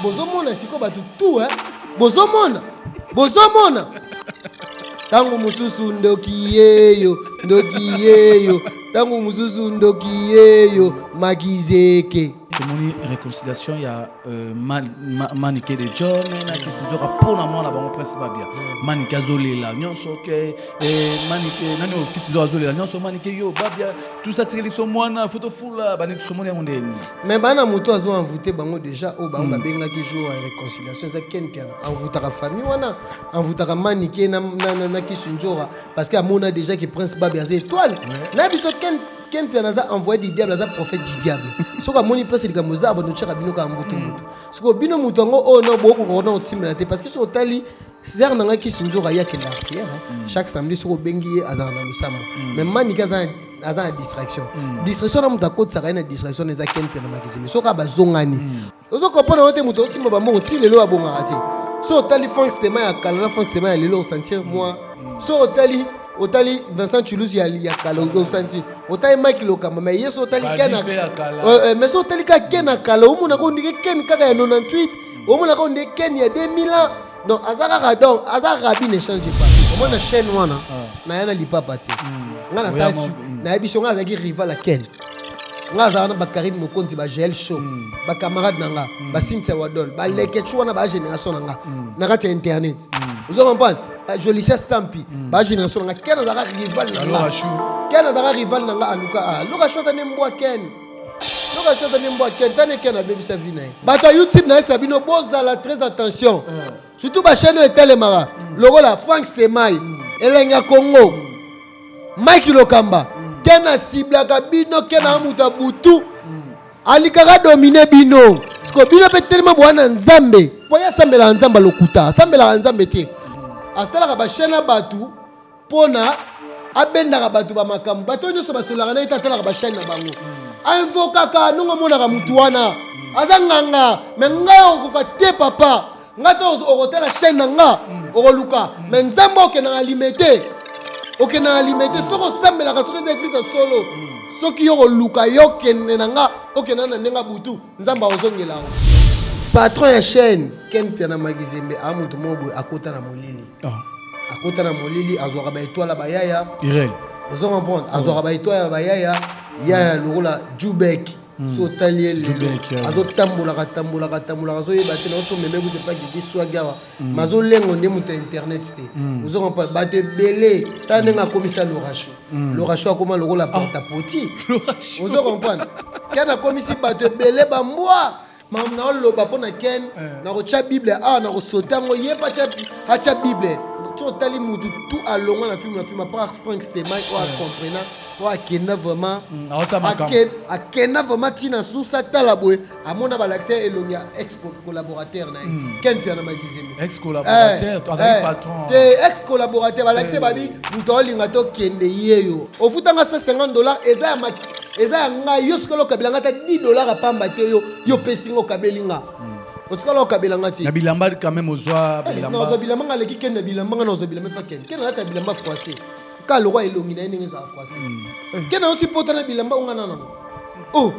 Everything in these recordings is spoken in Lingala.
bozomona sikoyo bato tu eh? bozomona bozomona ntango mosusu ndoki yeyo ndoki yeyo ntango mosusu ndoki yeyo makizeke tomoni réconciliation ya euh, manike de john na kisinzoka mpo na mwana bango prince babia manike azolela nyonso ke eh, manike nani oyo kisinzoka azolela nyonso manike yo babia tusatikeli biso mwana fotofula baniki somoni yango ndeni mais bana moto azo envoute bango déjà oyo bango babengaki jour ya réconciliation eza ken piana envoutaka famille wana envoutaka manike na, na, na, na kisindjora parce que amona déjà que prince babe aza étoile na biso ken ken piana aza envoyé du diable aza prophète du diable soki amoni prince likambo eza abando tyaka bino kaka mbutu mbutu sikoyo bino moto yango oyo na bokokoka na kotimbela te parce que soki otali César na ngai Kisindjora ye akenda na prière hein. mm. chaque samedi soki obengi ye azala na losambo mm. mais manike aza aza na distraction mm. distraction na moto akotisaka ye na distraction eza ken mpe na makizimi soki abazongani ozo comprendre yo te moto osimba bambongo ti lelo abongaka te so otali frank stema ya kala na frank stema ya lelo osentir mwa so otali otali vincent chulus ya, ya kala osanti otali mike lokamba mais ye so otali ken mais so otali kaka ken akala omonaka ondike ken kaka ya 98 omonaka oyo nde ken ya 2000 ans donc aza kaka donc aza rabi ne change pas omona chaîne wana ah. naya na lipapa te hmm. nga nasala su hmm. nayebi so nga azalaki rival ya ken nga azalaka na bakarine mokonzi bagel show hmm. bacamarade na nga basintia wadol baleketsu wana bagénération na nga na kati ya internet ozo comprendre jolicia sampi bagénération na nga ken azalaka rival na nga ken azalaka rival na nga aluka aluka ah, shota nde mbwa ken Soki azali mbwa kentane ken abebisa vi na ye. Bato ya YouTube na yesa bino bozala très attention. Eh. Surtout ba chaîne oyo etelemaka mm. lokola Frank Stemay, mm. Elenga Congo, mm. Mike Lokamba, ken asiblaka bino ken a moto ya butu alikaka domine bino siko bino mpe telema boya na nzambe mpo ye asambelaka nzambe lokuta asambelaka nzambe te asalaka bashene ya bato pona abendaka bato ba makambo bato oyo nyonso basololaka na ye te atalaka bashane na bango ainvokaka ndongo amonaka motu wana aza nganga me ngai okokoka te papa ngai to okotala chaine na nga okoluka me nzambe okendaka limete okendaka limete soki osambelaka soki eza eglise ya solo soki yo koluka yo kende na nga okenda na ndenge butu nzambe akozongela yango patron ya chaine ken mpiana magizembe a moto moko boye akota na molili Ah. akota na molili azwaka ba étoile ya bayaya irel ozo comprendre azwaka ba étoile ya bayaya yaya lokola jubek hmm. so otali ye lelo azotambolaka tambolaka tambolaka azoyeba te naoso meme kutu epa didi swagi awa hmm. mazolengo nde moto ya internet te hmm. ozo comprendre bato ebele ta ndenge akomisa loracho loracho akoma lokola ah. portapoti ozo comprendre kani akomisi bato ebele bambwa makambo na oloba mpo na ken nakotya bible awa nakosote yango ye mpe atya bible ti otali motu tu alongwa na filme na filme apart frank steman oyo acomprena oyo akenda vraiment akenda vraiment ntina susa atala boye amona balakisa elongi ya ex collaborateur na ye hmm. ken piana magizembe ex collaborateur eh, eh, balakisa babi moto aolinga tokende yeyo ofutanga 150 dollar eza ya eza ya ngai yo sikola okabela ngai ata 10 dollars pamba te yo yo pesi nga okabeli nga hmm. osikola okabela nga ti na bilamba quand même ozwa eh, bilamba ozwa bilamba nga leki ken na bilamba nga na ozwa bilamba pa ken ken ata bilamba froissé ka lokwa elongi na ye ndenge ezala froissé hmm. eh. ken ayosi pota na bilamba onga na nango oh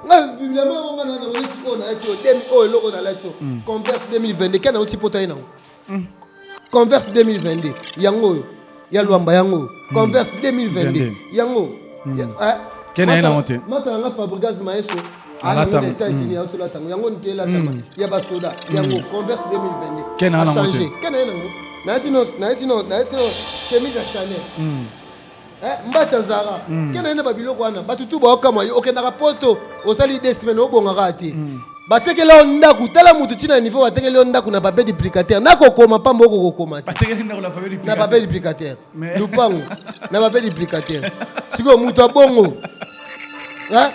nga bilamba onga na nango neti oyo nalati oyo demi oyo eloko nalati oyo complexe 2022 ken ayosi pota ye nango mm. converse 2022 yango oyo ya lwamba yango oyo mm. converse 2022 yango mm. eh, kena ye nango te masa nanga fabrigas maeso alatanga états-unis mm. aotolatanga yango nite elatanga ya basoda yango converse 2022 kena ye nango te kena ye nango naye tino naye tino naye tino chemise ya chanel Eh, mbatya zara mm. kenda yende babiloko wana bato tu baokamwa yo okendaka poto osali de semaine obongaka te mm. batekela yo ndako tala motu ntina ya niveau batekeli yo ndako na papier duplicateur nakokoma mpamba okokokoma te na papier duplicateur lupango na papier duplicateur sikoyo moto ya bongo eh?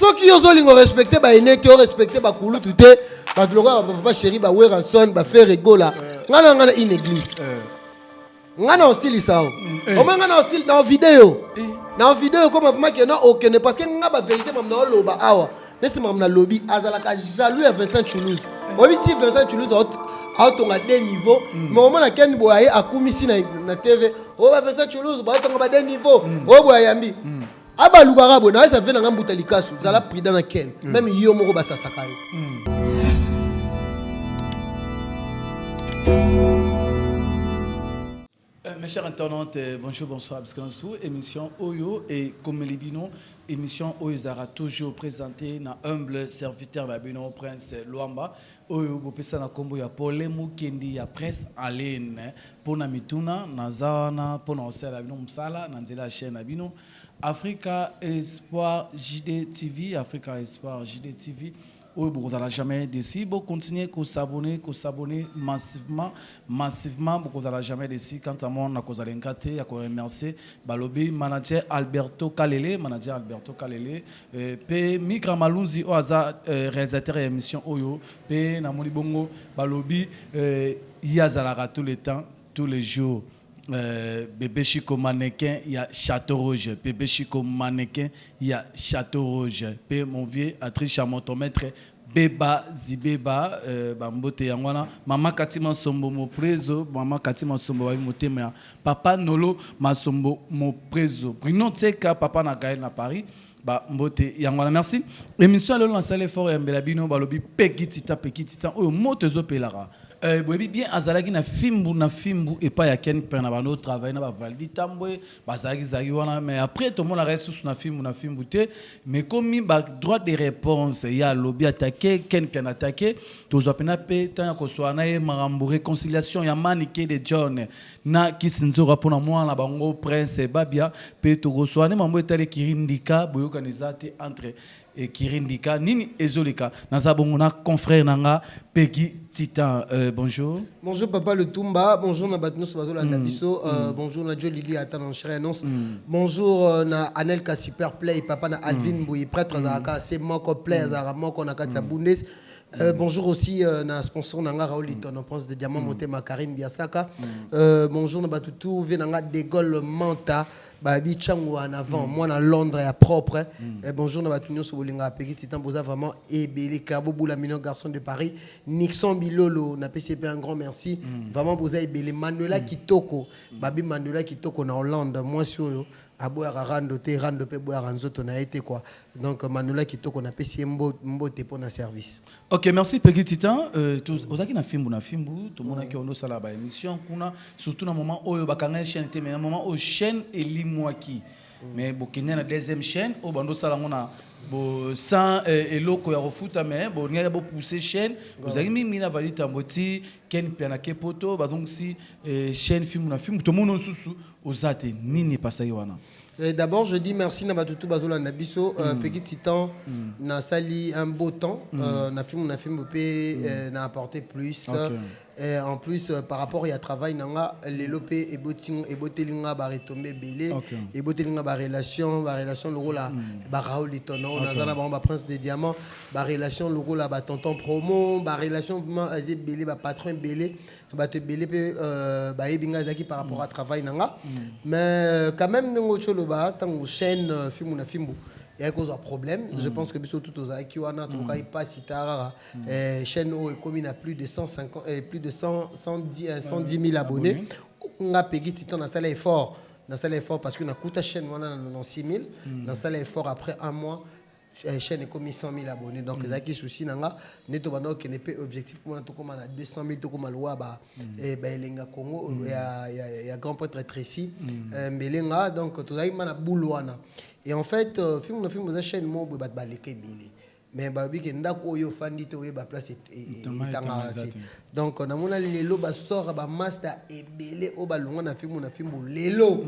soki yo ozolinga orespecte baene te orespecte bakulutu te bato lokola bapapa sheri baweranson baferegola ngai na ngai na une église euh. nga na osilisa yo mm, eh. omoi nga na osili na video eh. na video ekoma vraimen ke na okende parce que nga baverité mam na oloba awa neti mam nalobi azalaka jaloux ya vincent toulouse oyebi ti vincent toulouse aotonga de niveau mm. mais omona ken boye aye akumisi na tv oyo oh, ba vincent toulouse baotonga ba de niveau oyo mm. oh, boye ayambi abalukaka boye naza ve na nga mbuta likasu zala prudent na ken mm. meme yo moko basasaka yo mm. euh, Mes chers internautes, euh, bonjour, bonsoir, Abscansou. Émission Oyo et comme les binons, émission Oyo Zara toujours présentée dans humble serviteur Babino Prince Luamba. Oyo bopesa na kombo ya Pole Mukendi ya Presse en ligne. Pona mituna, naza wana pona kosalela bino mosala na nzela ya chaine na bino Africa Espoir JD TV, Africa Espoir JD TV. Oyo bokozala jamais desi, bo continuer ko s'abonner, ko s'abonner massivement, massivement, bokozala jamais desi. Quant à moi, nakozala ingrate ya ko remercier balobi manager Alberto Kalele, manager Alberto Kalele. Eh, pe Mika Malunzi oyo aza eh, realisateur ya emission oyo pe namoni bongo balobi eh, ye azalaka tout le temps tous les jours eh, bebe Chico mannequin ya Château Rouge bebe Chico mannequin ya Château Rouge pe mon vieux Atricha motomètre Beba zibeba ba mbote yango wana maman Cathy Mansombo Moprezo maman Cathy Mansombo bayebi motema ya papa Nolo Mansombo Moprezo Bruno Tseka papa na Gaël na Paris ba mbote yango wana merci emission ya lelo nasali effort ya mbela bino balobi Peggy Titan Peggy Titan oyo moto ezopelaka Euh, boyebi bien azalaki na fimbu na fimbu epai ya Ken Mpena bando travailler na ba Valdi Tambwe bazalaki zalaki wana mais après tomonaka ye susu na fimbu na fimbu te mais komi ba droit de réponse ye alobi atake ken mpian atake tozwa mpena mpe ntango ya koswaa na ye makambo réconciliation ya manike de john na kisi nzoka mpo na mwana na bango prince babia mpe tokoswaa nde mambo etali ekiri ndika boyokani eza te entre Ecurie ndika nini ezoleka naza bongo na confrère na nga Peggy Titan euh, bonjour Bonjour papa le Tumba, bonjour na bato nyonso bazolanda biso, euh, bonjour na Joe Lili ata na Chérie Annonce, bonjour euh, na Anel ka super play, papa na Alvin Mbuyi prêtre azalaka se moko play azalaka moko na kati ya Bundes. Euh, bonjour aussi euh, na sponsor na nga Raoul Litono prince de diamant motema Karim Biasaka. Euh, bonjour na bato tout vie na nga De Gaulle Manta Babi tshangu en avant mwana Londres ya propre eh, bonjour na batu nionso bolingaka Peggy Titan boza vraiment ebele Clabo Bula Mino garçon de Paris Nixon Bilolo na pesi ye pe un grand merci vraiment boza ebele Manuela Kitoko babi Manuela Kitoko na Hollande mwasi oyo aboyaka rando te rando pe eboyaka nzoto na ye te quoi donc Manuela Kitoko na pesi ye mbo- mbote pona service. Ok, merci Peggy Titan. Euh, ozaki na fimbu na fimbu, tout le monde qui a sala ba émission kuna, surtout na moment oyo bakanga chaîne te, mais na moment oyo chaîne elimwaki. Mais bokenya na deuxième chaîne, au bando sala ngona bo sans euh, eloko ya kofuta mais bo ngaya bo pousser chaîne, ozaki mingi na vali tamboti, ken piana ke poto, bazongisi euh, chaîne fimbu na fimbu, tout le monde susu ozate nini pasaki wana. Euh, d'abord, je dis merci na batutu bazola na biso euh, mm. petit titan mm. na sali un beau temps mm. euh, na film na film pe mm. euh, na apporter plus. Okay. Et en plus, euh, par rapport à travail, nanga lelo pe eboting eboteli nga ba retomber belé, okay. eboteli nga ba relation, ba relation loko la mm. ba Raoul Litono, okay. nazana ba ba prince des diamants, ba relation loko la ba tonton promo, ba relation vraiment azé belé, ba patron belé. bato ebele mpe euh, bayebi ngai ezalaki par rapport à travail na nga mais euh, quand même ndenge oti oloba ntango chaîne euh, fimbu na fimbu eyaki kozwa problème je pense que biso tout tozalaki wana tokokaki mpasi tarara Eh, chaîne oyo ekomi na plus de 150 eh, plus de 100, 110, eh, 110 000 abonnés nga pegi titan nasala effort nasala effort parce que nakuta chaîne wana na 96 000 nasala effort après un mois Eh, chaîne ekomi 100 000 abonné donc mm. ezalaki souci na nga nde tobanda kokende mpe objectif mpo na tokóma na 200 000 tokóma lowa baelenga mm. eh, congo mm. ya grand prêtre tracy eh, mbelenga donc tozalaki ma na boule wana et en fait euh, film na film oza chaîne moko boye bato baleka ebele mais balobi ke ndako oyo ofandi te oyeba place etangaka te donc namona lelo basora bamasta ebele oyo balongwa na fimbu na fimbu lelo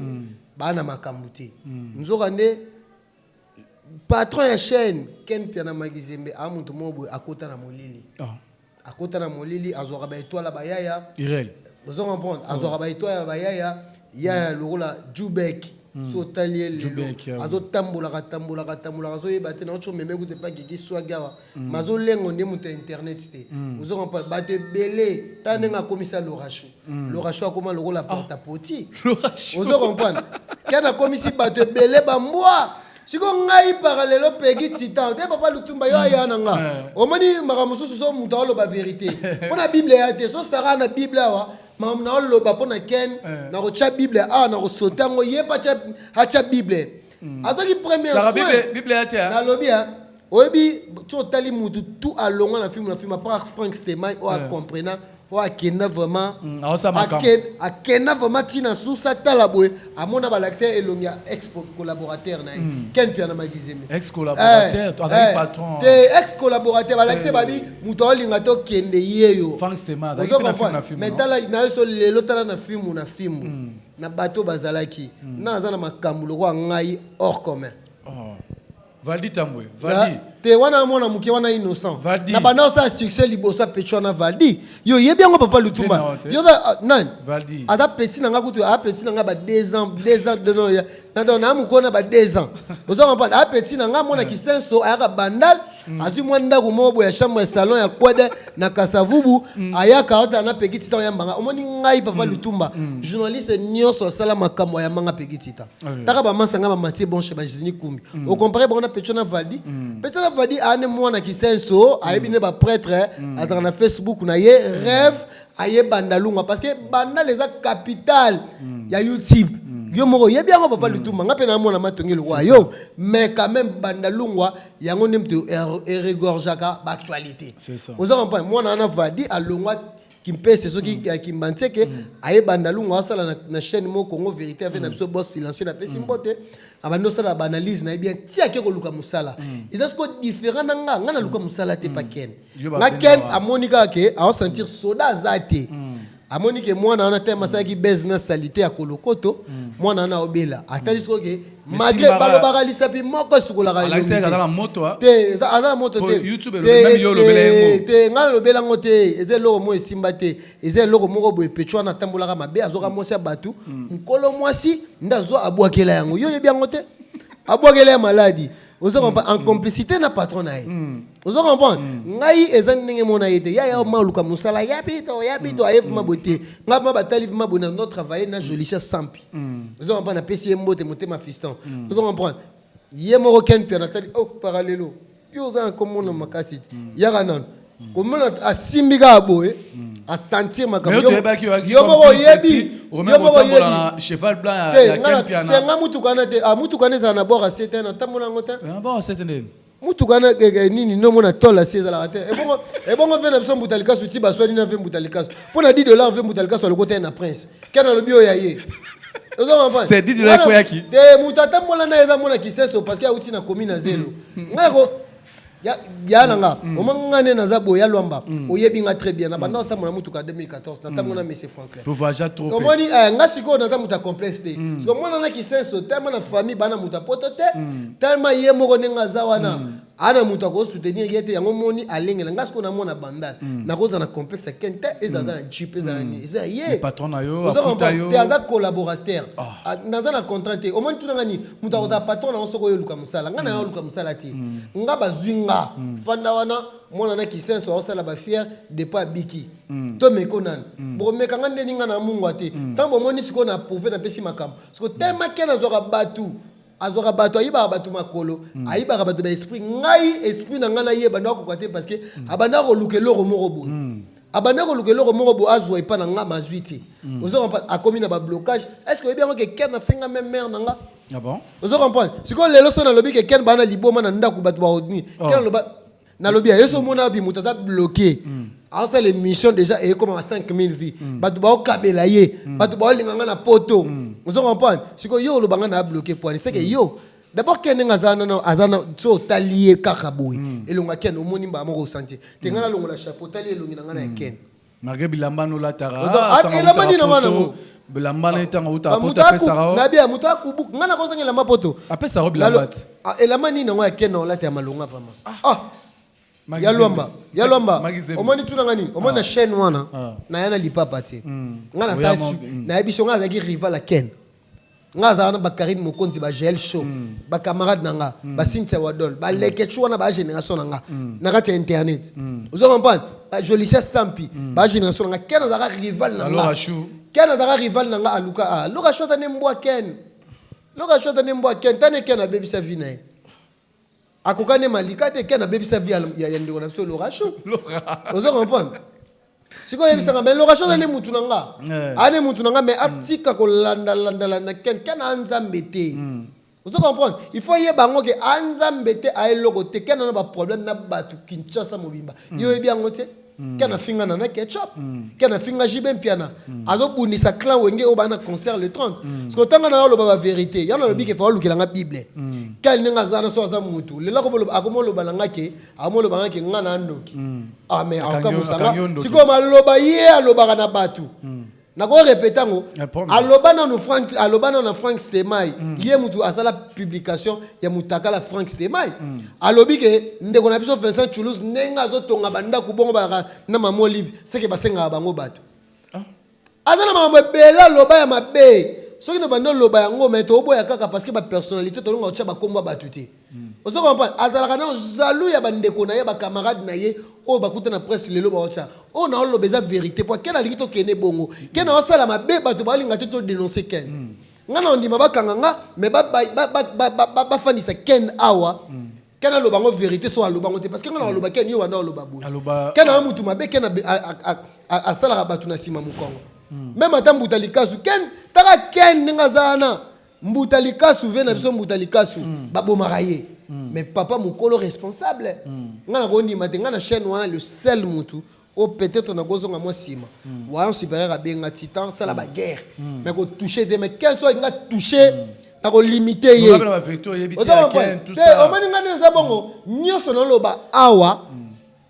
baa na makambo te nzoka nde patron ya chaîne ken mpiana magizembe a moto moko boye akota na molili ah. akota na molili azwaka baetoile ya bayaya ozo comprendre oh. azwaka baetoile ya bayaya yaya mm. lokola jubek mm. so otali ye lelo ah azotambolaka tambolaka tambolaka azoyeba te naoco meme kutu epa gigi swagi awa mm. mazolengo nde moto ya internet te ozo comprendre bato ebele ta ndenge akomisa loracho mm. lorasho akoma lokola ah. porta poti ozo comprendre ken akomisi bato ebele bambwa siko ngai paka lelo pegi titan te papa lutumba yo aya na nga eh. omoni makambo mosusu so moto aoloba verité mpo na bible ya te so sara na bible awa makambo na oloba mpo na ken eh. nakotya bible awa nakosote yango ye mpe atya bible mm. azwaki premier soin nalobi Oyebi ti otali mutu tu alongwa na film na film apart Frank Stemay oyo a comprena oyo akenda vraiment mm, akenda vraiment ti na source atala boye amona balakisa ye elongi ya ex collaborateur na ye mm. Ken Mpiana Magizeme ex collaborateur eh, azali eh, patron te ex collaborateur balakisa eh. babi mutu aolinga to kende yeyo Frank Stemay azali na film na film mais tala na yo so lelo tala na film na film mm. na bato bazalaki na aza na makambo lokola ngai hors commun oh. Valdi Tambwe, Valdi. Ah, te wana mwana muke wana innocent. Valdi. Na bana sa succès liboso ya Pecho na Valdi. Yo yebi yango papa Lutumba. Yo da ah, nan. Valdi. Ada petit na nga kutu, a petit na nga ba 2 ans, 2 ans, 2 ans. Na don na muko na ba 2 ans. Ozo comprendre? A petit na nga mwana kisenso ayaka bandal. Mm. azwi mwa ndako moko boye ya chambre ya salon ya kwede na kasavubu mm. ayaka ata na pekitita oyambanga omoni ngai papa mm. lutumba journaliste nyonso asala makambo ayambanga pekitita Mm. taka bamasa nga bamatie bon chez bagizini kumbi mm. ocompare bango na pecho na valdi mm. pecho na valdi aa ne mwana kisenso ayebi ne baprêtre azalaka na facebook na ye rêve aye bandalunga parce que bandal eza capitale ya youtube yo moko oyebi yango papa lutumba nga mpe na mwana matongi lokwa yo mais quand même bandalungwa yango nde moto eregorgeaka baactualité oza comprendre mwana wana valdi alongwa kimpese soki ya kimbanseke aye bandalungu asala na, na chaîne moko congo vérité ave na biso boss silencieux napesi mbote abandi osala baanalyse na ye bien ti ake koluka mosala eza siko différent na nga nga naluka mosala te pa ken Yo ba nga benda ken wa. amoni kaka ke aosentir soda aza te amoni ke mwana wana te masalaki base na salite ya kolokoto mwana wana aobela atali sikoyo ke malgré balobaka lisapi moko esukolaka aza moto te ngai nalobela yango te eza eloko moko esimba te eza eloko moko boye pecho wana atambolaka mabe azoka mwasi ya bato mokolo mm. mwasi nde azwa abwakela yango yo oyebi yango te abwakela ya maladi ozo comprendre en mm. complicité na patron na ye mm. ozo comprendre mm. ngai eza ndenge mona ye te ya ya ma oluka mosala ya pito ya pito aye vima boye te ngai ma batali vima boye na no travailler na jolicia sampi Mm. Vous comprenez, pesi yembo te motema fiston. Mm. Vous comprenez? Yembo ken piana tali oh parallelo. Yo za comme mon makasi. Mm. Yaka non. Comment a simbiga boye a sentir makambo. Yo moko yebi. Yo moko yebi. Cheval blanc ya ken piana. Tenga mutu kana te. Ah mutu kana za na bora sete na tamona ngota. Na bora sete nini? mutuka na keke nini no mona tol asi ezalaka te ebongo ebongo ve na biso mbuta likasu ti baswani na ve mbuta likasu mpo na 10 dollar ve mbuta likasu alokota ye na prince kena alobi oyo ya ye oza comprendre C'est 10 dollars Wana- ekoyaki. te moto atambola na ye eza mona kiseso parce que auti na komi na zelo ngai nako ya ya na nga omanga ngai nde naza boye ya lwamba oyebi nga très bien na banda otambola motuka ya 2014 natambola na monsieur frank tovaja trop omoni eh, nga sikoyo naza moto ya complexe te mm. siko mwana na kisenso telema na famille bana moto ya poto te mm. telema ye moko ndenge aza wana mm. ana moto akosoutenir ye te yango moni alengela nga sikoyo namona bandal mm. nakozala na complexe ken te eza aza na mm. jip eza na mm. nini eza ya yete aza collaborateur ah. ah, naza na contrat te omoni tuna nga nini moto akozala patron na yango soki oyo oluka mosala nga na yo oluka mosala te nga bazwi nga fanda wana mwana na kisenso aosala bafiere depa abiki Mm. to meko nani mm. bokomeka nga ndeni nga na mungwa te mm. ntango bomoni sikoyo na prouve napesi makambo siko mm. tellement ken azwaka bato azwaka bato ayibaka bato makolo mm. ayibaka bato ba esprit ngai esprit na ngai naye ebanda kokoka te parce que mm. abanda koluka eloko moko boye mm. abanda koluka eloko moko boye azwa epa na nga mazwi te mm. ozo comprendre akomi na bablocage est ce que oyebi yango ke ken afinga meme mare na nga ah bon? ozo comprendre sikoyo lelo so nalobi ke ken baa na liboma na ndako bato baodni oh. ken aloba nalobi ya yo so omona wapi moto aza bloke mm. asala émission déjà eyekomaka 5000 vie mm. bato baokabela ye mm. bato baolinga nga na poto ozo comprendre sikoyo yo oloba nga na abloke poani seke yo d'abord ken ndenge aza nano aza na so otali ye kaka boye elongo ya ken omoni mbala moko osanti te nga nalongola chapeau otali elongi na nga na ya ken Malgré bilamba no lataka. Donc elamba nini yango nango? Bilamba na etanga uta poto apesa ka. Na bia muta kubu. Nga na kozanga elamba poto. Apesa ka bilamba. Elamba nini yango ya Ken olata ya malonga vraiment? Ah. Ya lwamba, ya lwamba. Omoni tuna ngani? Omoni na chaîne wana na yana lipapa te. Nga na sa na yebiso nga azaki rival ya Ken. nga aza wana ba Karine Mokonzi ba Jael Show mm. ba camarade na nga mm. ba Cynthia Wadol ba mm. Leketchu wana ba génération na nga mm. na kati ya internet mm. ozo comprendre ba Jolicia Sampi mm. ba génération na nga ken azaka rival na nga ken azaka rival na nga aluka ah Loka Show ata ne mbwa ken Loka Show ata ne mbwa ken tane ken abebisa vie na ye akoka nde malika te ken abebisa vie ya ndeko na biso lorachon ozo comprendre sikoyo oyebisanga mais lorachon aza nde mutu na nga eh. aa nde mutu na nga mais mm. atika kolandalandalanda ken ken a nzambe te mm. ozo comprendre il faut ayeba yango ke a nzambe te aeloko te ken ana baproblème na bato kinshasa mobimba mm. yo oyebi yango te mm. ken afinga nana ketchup mm. ken afinga jibe mpiana mm. azobundisa clan wenge oyo bana concert le 30 mm. parce que otanga na yo oloba baverité yango nalobi mm. ke faa olukela nga bible mm. ken ndenge aza na so aza mutu lelo akomoloba na nga ke akomoloba nga ke nga na andoki mm. ah mais akoka mosanga sikoyo maloba ye alobaka na bato mm. nako repeta yango aloba nanu frank aloba nanu na frank stemai mm. ye mutu asala publication ya mutakala frank stemai mm. alobi ke ndeko na biso vincent chulus ndenge azotonga bandako bongo balaka na mama olive seke basengaka bango bato ah. aza na makambo ebele aloba ya mabe soki na banda oloba yango me toboya kaka parce que bapersonnalité tolonga kotya bakombo ya bato te Ozo comprendre? Azalaka nao jaloux ya ba ndeko na ye, ba camarades na ye oyo bakuta na presse lelo bao tia. Oyo nao loba eza verite po Ken alingi to kende bongo. Ken ao sala mabe batu bao linga te to denoncer Ken. Nga nao ndima ba kanga nga mais ba ba ba fandisa Ken awa Ken aloba yango verite soki aloba yango te parce que nga nao loba Ken yo banda oloba boye. Ken aza mutu mabe Ken a salaka batu na sima mukongo. Meme ata mbuta likasu Ken taka Ken ndenge aza wana Mbuta likasu vie na biso mbuta likasu ba bomaka ye mais papa mukolo responsable nga na ko ndima te nga na chaine wana le seul mutu oyo peut etre na ko zonga mwa sima wayon superieur a benga titan sala ba guerre mais ko touche te mais ken soki nga touche na ko limite ye oza comprendre te omoni nga nde eza bongo nioso na loba awa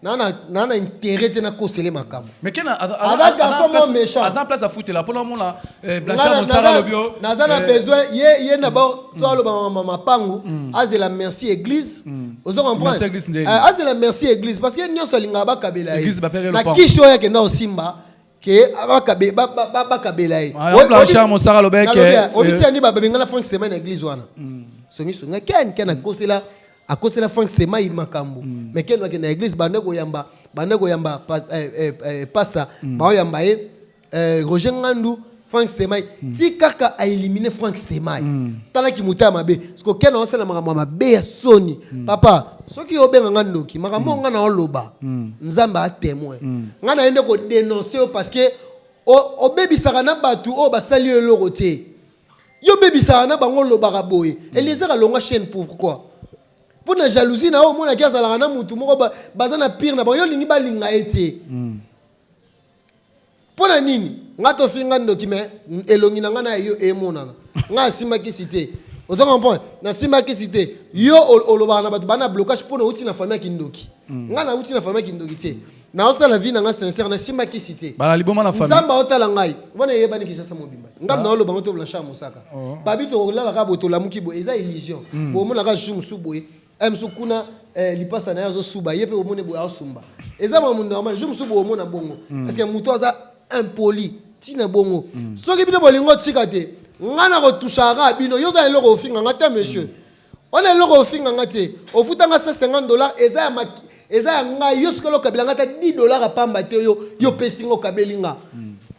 nana nana intérêt te na kosele makambo mais ken aza garçon mo méchant aza place afutela pona mona eh, blanchard mosala lobi oh. naza na eh. besoin ye ye na ba mm. to aloba mama mapangu mm. azela merci église mm. ozo comprendre eh, azela merci église parce que nionso alinga bakabela ye na kisho yake na osimba ke abakabe ba ba ba bakabela ye Ah, yango Blanchard Mosaka alobaki ke, eh, obitisa nde babengana frank semai na église wana songisongi ken ken akosela akosela frank semai makambo mais ken akende na église banda koyamba banda koyamba pa- eh, eh, eh, pasta baoyamba ye eh, roger ngandu Frank Stemay mm. ti kaka a éliminer Frank Stemay mm. tala ki muta mabe siko kena osala makambo mabe ya soni mm. papa soki obenga nga ndoki makambo mm. nga na oloba mm. nzambe a témoin mm. nga na yende ko dénoncer yo parce que obebisaka na bato oyo basali yo eloko te yo obebisaka na bango olobaka boye hmm. eliezer alonga chaîne pourquoi mpo na jalousie na yo omonaki azalaka na motu moko baza na pire na bango yo olingi balinga ye te hmm. pona nini nga tofinga ndoki me elongi na nga na yo emonana nga asimba kisi te ozo comprendre nasimba kisi te yo olobaka na bato bana blocage mpona outi na famille ya kindoki mm. nga nauti na famille ya kindoki te naosala vie na nga sincère nasimba kisi te nzambe aotala ngai wana eyebani kinshasa mobimba ngambe ah. naoloba ngo to blanchard mosaka oh. babi tokolaka kaka boye tolamuki boye eza illusion mm. bomonaka jour mosusu boye Aya mosusu kuna eh, lipasa na ye azosuba ye mpe omoni boye asumba eza makambo normal jour mosusu boomona bongo mm. parce que moto aza impoli ntina bongo mm. soki bino bolingo tika te ngai nakotushaka bino yo oza eloko ofinga ngai te monsieur mm. wana eloko ofinga ngai te ofutanga 150 dollar eza ya maki eza ya ngai yo sikoyo okabela ngai ata 10 dollar apamba te yo yo opesi ngai okabeli ngai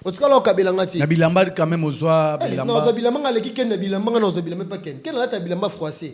otikala okabela nga ti na bilamba quand même ozwa eh, bilamba bilamba nga aleki ken na bilamba nga na ozwa bilamba epa ken ken alata bilamba froissé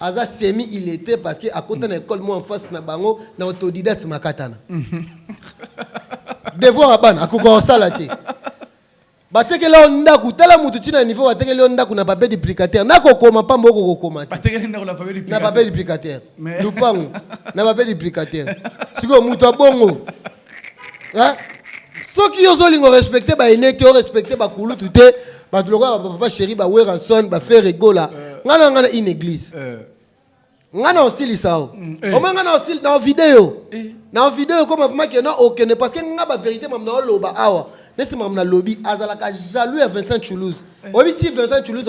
Aza semi illete parce que akota na ecole moko en face na bango na autodidacte makatana. Devoir ya bana akoka kosala te. Batekeli yo ndaku tala mutu tina niveau batekeli yo ndaku na papier duplicateur na kokoma pamba oko kokoma te. Batekeli ndaku na papier duplicateur. Na papier duplicateur. Lupangu na papier duplicateur. Sikoyo mutu abongo soki yo ozolinga orespecte baine te orespecte bakulutu te bato lokola bapapa chéri baweranson bafere gola ngai na ngai na une église eh. ngai na osilisa o mm, eh. omoi ngai na osili na video eh. na video ekoma vimaki na okende parce que ngai baverité mamu na oloba awa neti mamu nalobi azalaka jaloux ya vincent toulouse oyebi ti vincent toulouse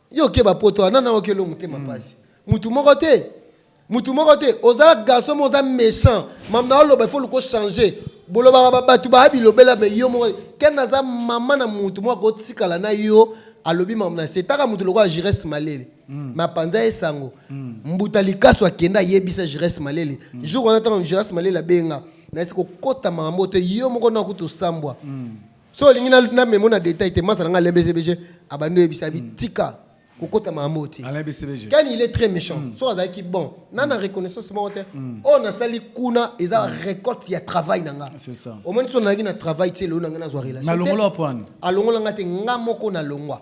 yo okeba poto wana na okelo motema mpasi mutu moko te mutu moko te ozala garçon moko oza méchant mam na oloba ifo luko changer bolobaka ba- bato baya bilobela me yo moko ken aza mama na mutu moko akotikala na yo alobi mam na setaka mutu lokola jires malele me apanza ye sango mbuta likasu akenda ayebisa jires malele jour wana ntango jires malele abenga nayesi kokota makambo te yo moko na kutu osambwa so olingi na- namemo na detail te masa na ngai lembesebege abandi oyebisa abi tika kokota makambo te Alain BCBG. ken il est très méchant so azalaki bon na na reconnaissance moko te oyo nasali kuna eza récolte ya travail na nga C'est ça. omoni so nazalaki na travail te lelo na ngai nazwa relation te. Nalongola wapi wana? alongola nga te nga moko nalongwa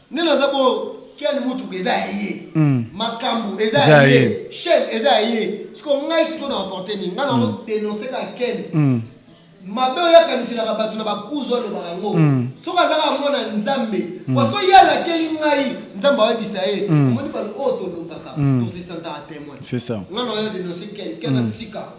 Nene aza bongo Ken mutuka eza ya ye makambu eza ya ye chaine eza ya ye sikoyo ngai sikoyo na emporte nini ngai nako denonce kaka Ken mabe oyo akaniselaka batu na ba kuzu alobaka yango soki aza kaka mwana ya nzambe po soki ye alakeli ngai nzambe akoyebisa ye omoni batu oyo tolobaka to se sentaka temoin ngai nazo denonce Ken Ken atika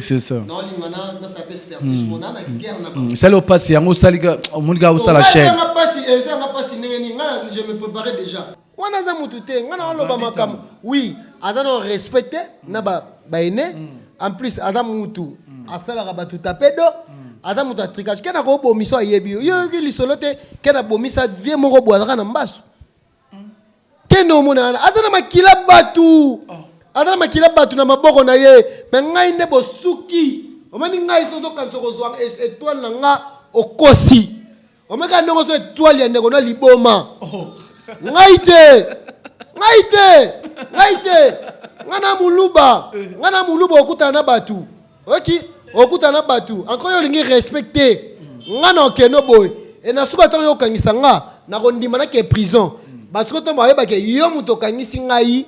c'est ça esali yo mpasi yango osali omoni kaka osala chaine wana aza motu te ngai naoloba makambo oui aza na respect te na baene en plus aza motu asalaka bato tapedo aza moto ya tricage kena kobomiso ayebi yo yo oyoki lisolo te kena bomisa vie moko boye azaka na mbasu kende omona wana aza na makila batu oh. aza na makila batu na maboko na ye me ngai nde bosuki omoni ngai sozokanisa okozwa e- etoile na nga okosi omoni kaka ndenge ozo etoile ya ndeko na liboma oh. ngai te ngai te ngai te ngai na muluba eh. ngai na muluba okutana na batu oki okuta na batu anko yo olingi respect te nga na okeno boye e na suka ntango yo okangisa nga nakondima nake prison bato ko ntango bayeba ke yo moto okangisi ngai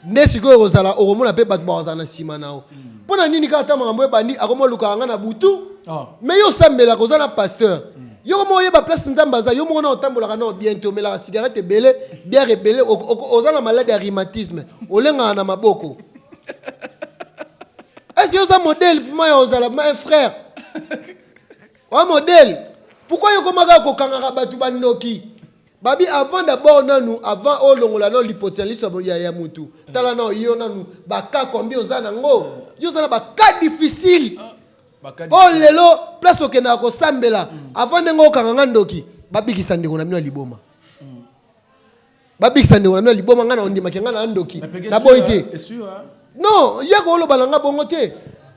nde sikoyo okozala okomona mpe bato bakozala na nsima na yo mpo na nini kaka ntango makambo ebandi akomoluka nga na butu me yo osambelaka oza na pasteur yo moko oyeba place nzambe aza yo moko na otambolaka nao bien te omelaka cigarette ebele biare ebele oza na maladi ya rhumatisme olengaka na maboko est ce que oza modèle vrima ya ozala ma frère oa modèle pourkui yokomaka kokangaka bato bandoki babi avant d'abord nanu avant olongola nao lipoti na liso ya, ya mutu tala nao yo nanu baka kombi oza nango yo oza na baka difficile oyo oh, lelo place okendaka kosambela mm. avant ndenge okanga nga ndoki babikisa ndeko na bino ya liboma babikisa ndeko na bino ya liboma ngai naondimaki ngai na ndoki naboyi te non ye akoloba na ngai bongo te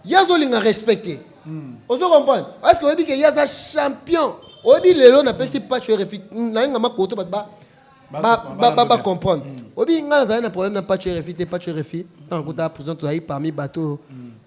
ye azolinga respect te hmm. ozo comprendre parceke oyebi ke ye aza champion oyebi lelo napesi pacho refi nalinga makoto bato bacomprendre hmm. oyebi ngai nazali na problème na pacho refi te pacho refi ntango akuta prison tozali parmi bato hmm.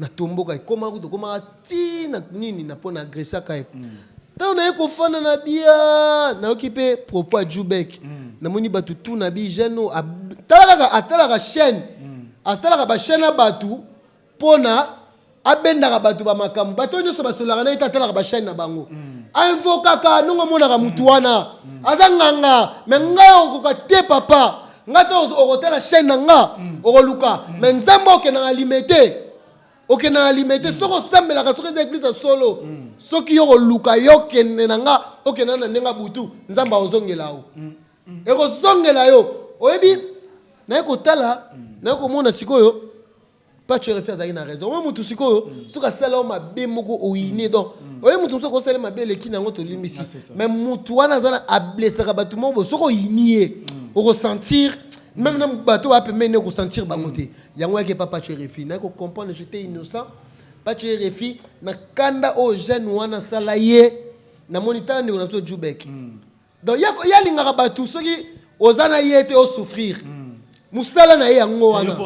na tomboka ekoma kutu ekomaka ti na nini na mpo na agresaka ye ntango naye kofanda na bia nayoki mpe propos ya jubek namoni bato tu na bi jeune oyo ab- tala kaka atalaka chaîne atalaka bachaîne ya bato mpo na abendaka bato bamakambo bato oyo nyonso basololaka na ye te atalaka bachaîne na bango ainvokaka ndongo amonaka motu wana aza nganga me ngai okoka te papa nga te okotala chaîne na nga mm. okoluka mm. mais nzambe okenda na lime te okenda na lime te mm. soki osambelaka soki eza eglise ya solo soki yo okoluka yo okende na nga okenda na ndenge butu nzambe akozongela yo ekozongela yo oyebi naye kotala naye komona sikoyo Pacho refi azalaki na raison oyo motu sikoyo soki asala yo mabe moko oyine mm. donc mm. oye motu mosusu akosala mabe eleki na yango tolimbisi ah, mais motu wana aza na ablesaka bato moko bo soki oyini ye mm. okosentir meme na bato oya pembeni ne okosentir bango te yango yaki epa pacho refi naye kocomprendre jete innocent pacho refi na kanda oyo jeune wana asala ye namoni tala ndeko na biso jubek Donc ye ye alingaka batu soki oza na ye te o souffrir. Musala na ye yango wana.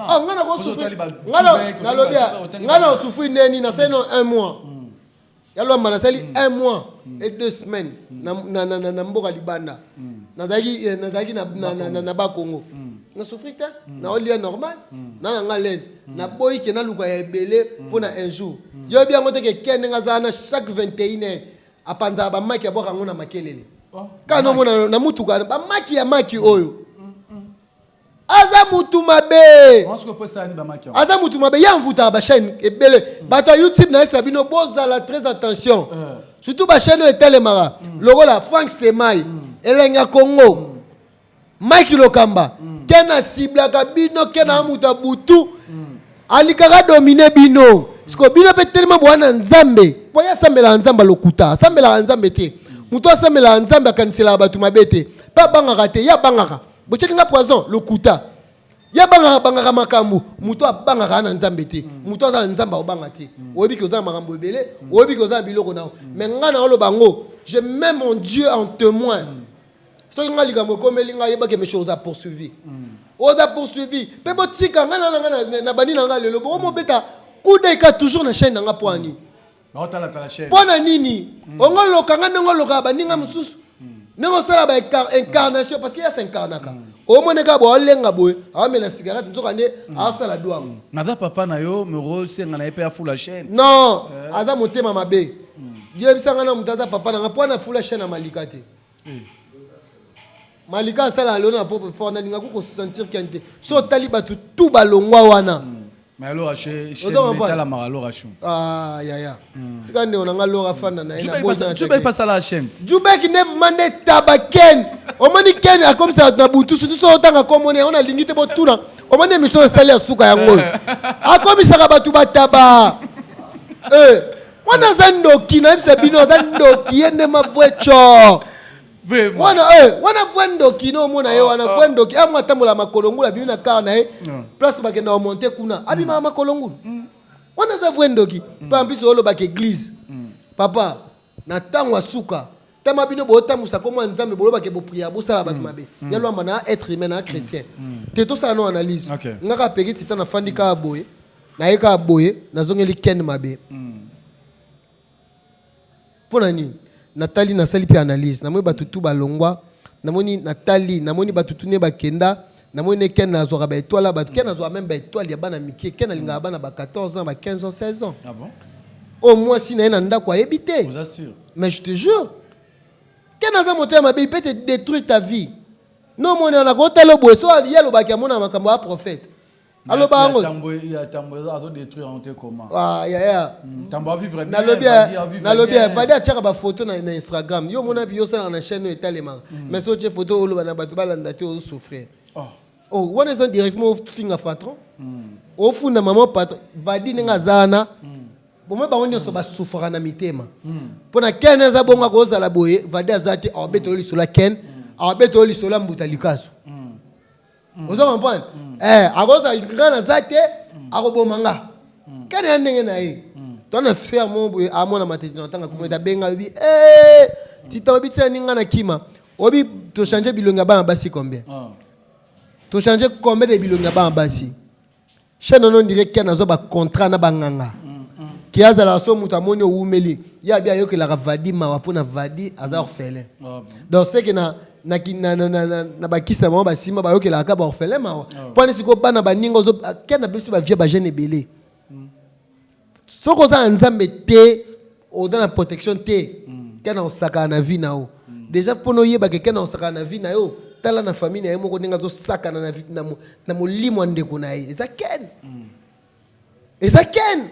Ah nga na ko souffrir. Nga na lobi ya nga na souffrir nde nini nasali na un mois. Ya lwamba nasali un mois et deux semaines na na na na mboka libanda. Nazalaki nazalaki na na na ba Congo. Na souffrir te na olia normal na na nga l'aise. Na boyi ke na luka ya ebele pona un jour. Yo oyebi yango te ke Ken ndenge aza wana chaque 21 heures apanzaka bamaki abwaka yango na makelele kaka nomona na motuka bamaki ya maki oyo aza mutu mabe aza mutu mabe ye amvutaka bachaine ebele mm. bato ya youtube na yesa bino bozala très attention eh. surtout bachaine oyo etelemaka mm. lokola frank semai mm. elenga congo Mike Lokamba mm. ken asiblaka bino ken mm. amuta butu mm. alikaka domine bino mm. siko bino mpe telema boya na nzambe mpo ye asambelaka nzambe alokuta asambelaka nzambe te mm. moto asambelaka nzambe akaniselaka bato mabe te mpe abangaka te ye abangaka botyeli nga poison lokuta ye abangaka bangaka makambo moto abangaka na nzambe te mm. moto aza na nzambe akobanga te mm. oyebi ke oza na makambo ebele mm. oyebi ke oza na biloko na yo mais ngai na oloba yango je mets mon dieu en témoin soki ngai likambo ekomeli ngai yebake mesho oza poursuivi mm. oza poursuivi mpe botika ngai nana ngai na bandi na ngai lelo boko mobeta kudeka toujours na chaîne na ngai mpo ani mm. mpo na nini mm. ongo loka ngai ndenge olokaka baninga mosusu ndenge osala ba incarnation parce que ya s'incarnaka omoni kaka boye alenga boye aomela cigarette nzoka nde aosala dwango naza papa na yo mero senga na ye mpe afula chaîne non eh. aza motema mabe yebisa ngai na moto aza papa na ngai mpo ana fula chaîne ya malika te Malika asala alona na propre fort na lingako ko sentir ken te so otali batu tout ba longwa wana hmm. mais alora chez chez metala mara alora chou ah ya ya hmm. tika nde onanga lora fanda na ina bo na jubek pas sala chaîne jubek nev mande tabaken omoni ken akomisa na butu surtout so otanga komone on a lingi te bo tuna omoni emission esali ya suka yango akomisaka batu bataba eh Mwana aza ndoki na yebisa bino aza ndoki ye nde mavue tshor. Vraiment. Wana eh wana vue ndoki no mona ye wana vue ndoki amwa tambola makolongula bimi na car na ye place bakenda o monter kuna abima makolongula. Wana aza vue ndoki. Mpe en plus olobaka eglise. Papa na ntango ya suka tama bino botambusa kombo ya nzambe boloba ke bopriere bosala bato mabe ya lwamba na être humain na chrétien te tosala no analyse Ok. nga kaka peki tita nafandi kaka boye naye kaka boye nazongeli ken mabe mpo na nini natali nasali mpe analyse namoni bato tu balongwa namoni natali namoni bato tu ne bakenda Namoni ne ken azwaka ba etoile ya batu ken azwaka meme ba etoile ya bana mikie ken alingaka bana ba 14 ans ba 15 ans 16 ans ah bon? oyo mwasi na ye na ndako ayebi te mais je te jure ken aza motema mabe il peut te détruire ta vie no omoni wana kotala boye so ye alobaki amonaka makambo ya prophète aloba yango nalobi vadi atyaka bafoto na instagram yo omona yo osalaka na chaine oyo etalemaka mm. mais soki otye foto oloba na bato balanda te ozosouffrir oh. oh, wana eza directement ofinga patron mm. ofunda mama patron vadi ndenge aza wana mm. bomoi bango nyonso basufraka na mitema mpo na ken eza bongo akozala boye vadi aza te awabeta yo lisolo ya ken awabeta yo lisolo ya mbuta likasu mm. ozo comprendre mm. eh akoza nga naza te mm. akoboma nga mm. kani ya ndenge na ye mm. to na frère mo boye amona matete na tanga kuma mm. benga lobi eh mm. tita obi tia ninga na kima obi to changer bilongi ya bana basi combien mm. to changer combien de bilongi ya bana basi mm. chaine wana ondire ken azwa bacontrat na banganga ke azalaka so moto amoni owumeli ye abi ayokelaka vadi mawa mpo na vadi aza orphelin donc seke na na, ki- na, na, na, na, na bakisi na bango basimba bayokelaka kaka baorphelin mawa mpo wana sikoyo bana baninga ozo ken abebisi bavie bajeune ebele soki oza na nzambe te oza na protection te kena osakana na vie na yo deja mpona oyebake kena osakana na vie na yo tala na famille na ye moko ndenge azosakana na, na, na molimo ya ndeko na ye eza ken eza ken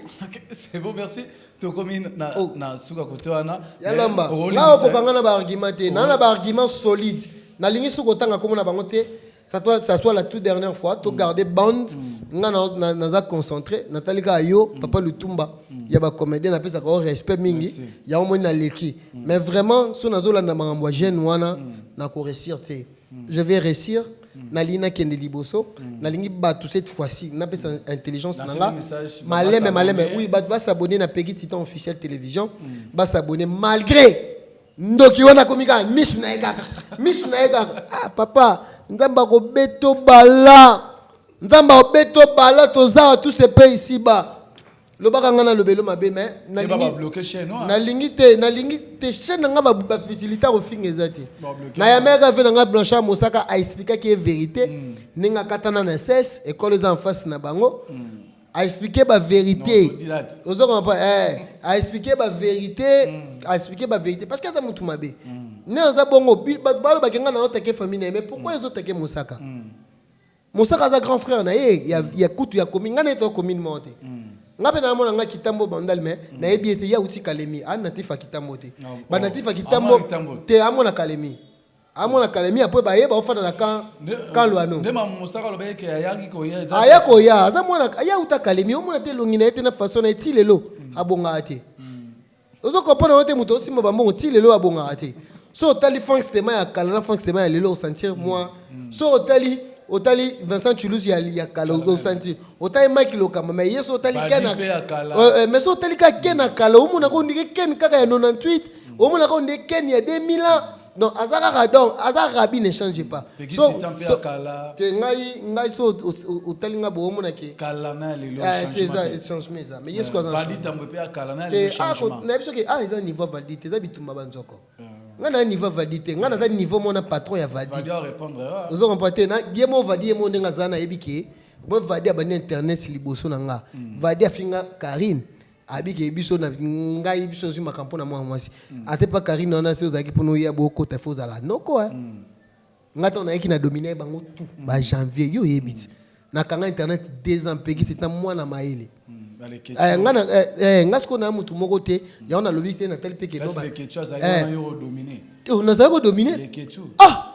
c'est bon merci tokomi na, oh. na suka kote wana ya lamba nga okokanga na baargument te naa na baargument solide nalingi soki otanga komona bango te Ça soit, ça soit la toute dernière fois, to garder bande, nga na, na, naza concentré, natali kaka yo, papa Lutumba, ya ba comédien na pesa ko respect mingi, Merci. ya omoni na leki. Mais vraiment, so nazo landa makambo ya jeune wana, na ko réussir te. Je vais réussir, nalingi nakende liboso, nalingi bato cette fois-ci, napesa intelligence na Nasali nga, message, maleme, ba maleme, s'abonner. oui, bato ba s'abonner na Peggy Titan officiel télévision, ba s'abonner malgré Ndoki wana akomi kaka misu na ye kaka misu na ye kaka ah papa nzambe akobeto bala nzambe akobeto bala tozawa tout se paye ici bas lobaka ngai nalobelo mabe mais nalingi te nalingi te chaîne na ngai bafisilite akofinga eza te nayameyaka ve na ngai blanchard mosaka aexplikaki ye verité ndenge akatana na ses ekolo eza en face na bango a explique ba verite ozo koma pa eh mm. a explique ba verite mm. a explique ba verite parce que aza mutu mabe mm. ne aza bongo bato balobaki ngai nazo take famille na ye mais pourquoi mm. ezo take mosaka mm. mosaka aza grand frère na ye ya, mm. ya kutu ya commune ngai na ye to commune moko te mm. nga mpe namona nga kitambo bandal me mm. nayebi ete ye auti kalemi anatif ya kitambo te banatif ya kitambo te amona kalemi Amona kalemie après baye ba ofanda na camp camp Luano. Nde mamu mosaka loba eke ayaki koya eza. Aya koya aza mwana aya uta kalemie omona te longi na ye te na façon na ye ti lelo abongaka te. Ozo comprendre yango te moto osimba bambongo ti lelo abongaka te. So otali Frank Stema ya kala na Frank Stema ya lelo osentir mwa so otali otali Vincent Chulus ya ya kala osentir otali Mike Lokamba mais yeso otali Ken na mais so otali ka Ken na kala omona ko ndike Ken kaka ya 98 omona ko ndike Ken ya 2000 ans. Non, aza kaka donc aza rabi ne change pas. Peggy so, Titan mpe so, ya kala. te ngai ngai so ot- ot- otali ngai bokomo na ke kala na ya lelo Ah, te eza changement te. changement eza mais yesu aza na Vadi changement. tambo epe ya kala na ya Te, lelo ah, ko- changement. nayebi soki ah eza niveau ya valdi te eza bitumba banzoko ngai na niveau ya valdi te ngai naza niveau mona patron ya valdi Vadi a répondre. ah. ozo comprendre te na ye mo vadi ye mo ndenge aza nayebi ke bo vadi abandi internet liboso na nga vadi afinga karine abike biso na ngai biso azwi makambo mpo na mwana mwasi mm. ate mpa karine wana se ozalaki mpo noya bokota fo ozala noko eh. mm. ngai ntango nayaki na domine bango tout mm. ba janvier yo oyebi ti nakanga internet deux ans mpeki ti ta mwana mayele eh, nga eh, eh, sikoyo naya motu moko te yango nalobi te natali mpe kenozali kodomine ah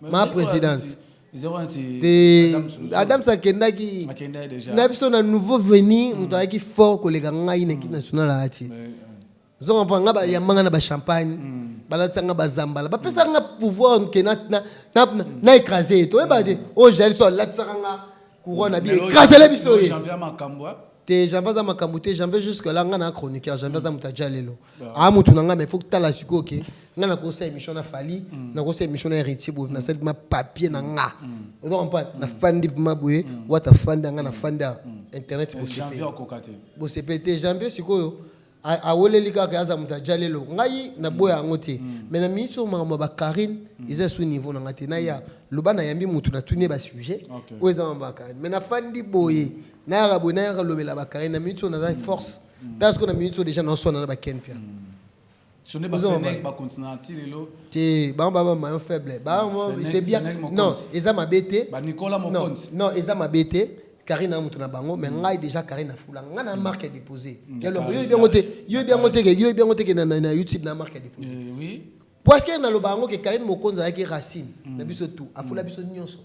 ma presidente te adams akendaki na biso na nouveau venu hmm. moto ayaki fort koleka ngai na ekipe national ayati zonga mpo nga bayambanga na bachampagne hmm. balatisa nga bazambala bapesaka nga pouvoir nke na écrase ye toyeba te oyo jali so alatisaka nga couronne abi écrasele biso ye Te janvier aza makambu te janvier jusque là nga na chroniqueur janvier aza mutu ya jalelo a mutu na nga mais faut tala sikoyo ke nga na kosa émission na Fally na kosa émission na Héritier Bob na sali ma papier na nga ozo comprendre na fandi ma boye wata fanda nga na fanda internet bosepe bosepe te janvier sikoyo A weleli kaka aza mutu ya djalelo ngai na boya yango te mais na minute oyo makambo ya ba Carine eza lisusu niveau na ngai te naya loba na yambi mutu na tuni ye ba sujet oyo eza makambo ya Carine mais na fandi boye nayaka boye nayaka lobela ba Carine na minute oyo naza force tala sikoyo na minute oyo dejà nao swana na ba Ken Pia te bango ba ba maillon faible bango c'est bien non eza mabe te non eza mabe te Carine na mutu na bango mais mm. ngai déjà Carine na fula ngai na mm. marque à déposer mm. yo lobi bien ngote yo bien ngote que yo bien ngote que na na YouTube na marque à déposer eh oui parce que na loba ngo que Carine Mokonza yaki racine na biso tout a fula biso nyonso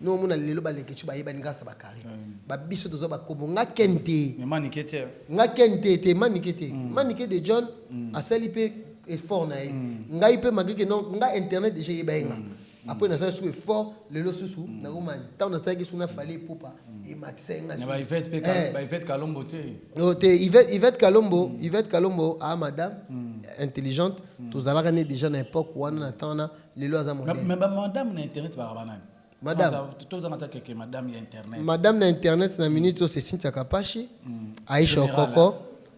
no mona lelo ba leke chuba yeba ngasa ba Carine ba biso tozo ba kobo nga kente mais manike te nga kente te manike te manike de John asali pe effort na ye ngai pe magike non nga internet déjà yeba nga Après naza sous effort lelo susu mm. na koma tant na tsaki suna fallait ipupa mm. et matisa nga sous. Ba Yvette pe eh. ba Yvette Kalombo te. No te Yvette Yvette Kalombo, mm. Yvette Kalombo a ah, madame intelligente, tozalaka ne déjà na époque wana na temps na lelo aza modèle. Mais ba madame na internet ba banani? Madame. Tozangata keke madame ya internet. Madame na internet na minute c'est Cynthia Kapashi, Aisha Okoko.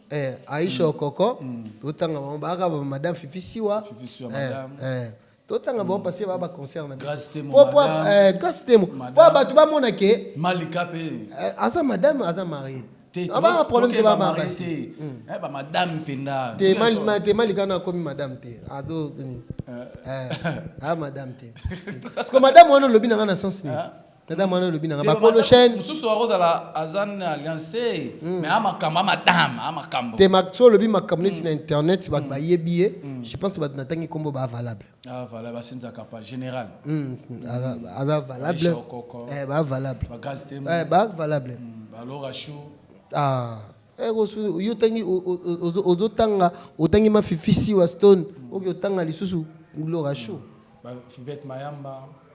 Eh, Aisha Okoko, otanga bango ba madame Fifi Siwa. Fifi Siwa madame. Eh, eh. Totanga bango parce que ba ba concert na biso. Po po eh Grace Temo. Po batu ba mona ke Malika pe. Aza madame aza mariée. Ah ba problème te ba ba basi. Eh ba madame penda. Te mal ma te Malika na komi madame te. Ado eh ah madame te. Parce que madame wana lobi na nga na sens ni. tata mwana olobi nanga bakolo chaine mosusu akozala aza na alliance te hmm. mais a makambo a madame a makambo te so olobi makambo neti na hmm. internet bato hmm. bayebi ye je pense bato natangi nkombo ba valable ah, valable asinzaka pa général aza valable eh, ba valable eh, ba valable balora chou ah eh, yo otangi ozotanga otangi mafifisi wa stone oki otanga lisusu lora chou fivete mayamba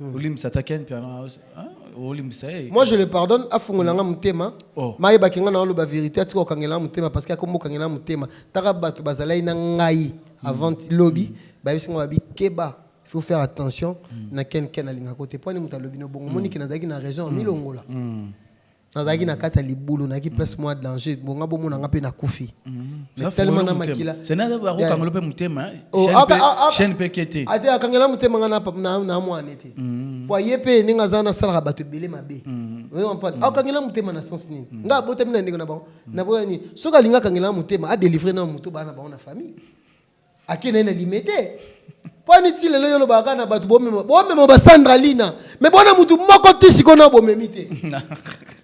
Hmm. olimbisa ata ken mpiana ah, olimbisa ye eh. moi je le pardonne afungola nga motema oh. mayebaki nga na oloba verité atika kokangela nga motema parce que akomi kokangela nga motema taka bato bazalaki na ngai hmm. avant lobi hmm. bayebisi nga babi keba faut faire attention na ken ken alingaka te mpo ani moto alobi no bongo moniki nazalaki na raison amilongola nazalaki na kati ya libulu nayaki mm. place mwa danger bonga bomona nga mpe nakufi akokangela mpe motema chaine mpe ke te ate akangela motema nga na mwane te mm. po aye mpe ndenge aza nasalaka bato ebele mabe mm. akokangela motema na sens nini nga abotami na ndeko na bango naboya nini soki alingi akangela motema adelivre na moto bana na bango na famille Ake naye na limete. Pwani ti lelo yo lobaka na batu bomema bomema ba Sandra Lina. Mais bona mutu moko ti siko na bomemi te.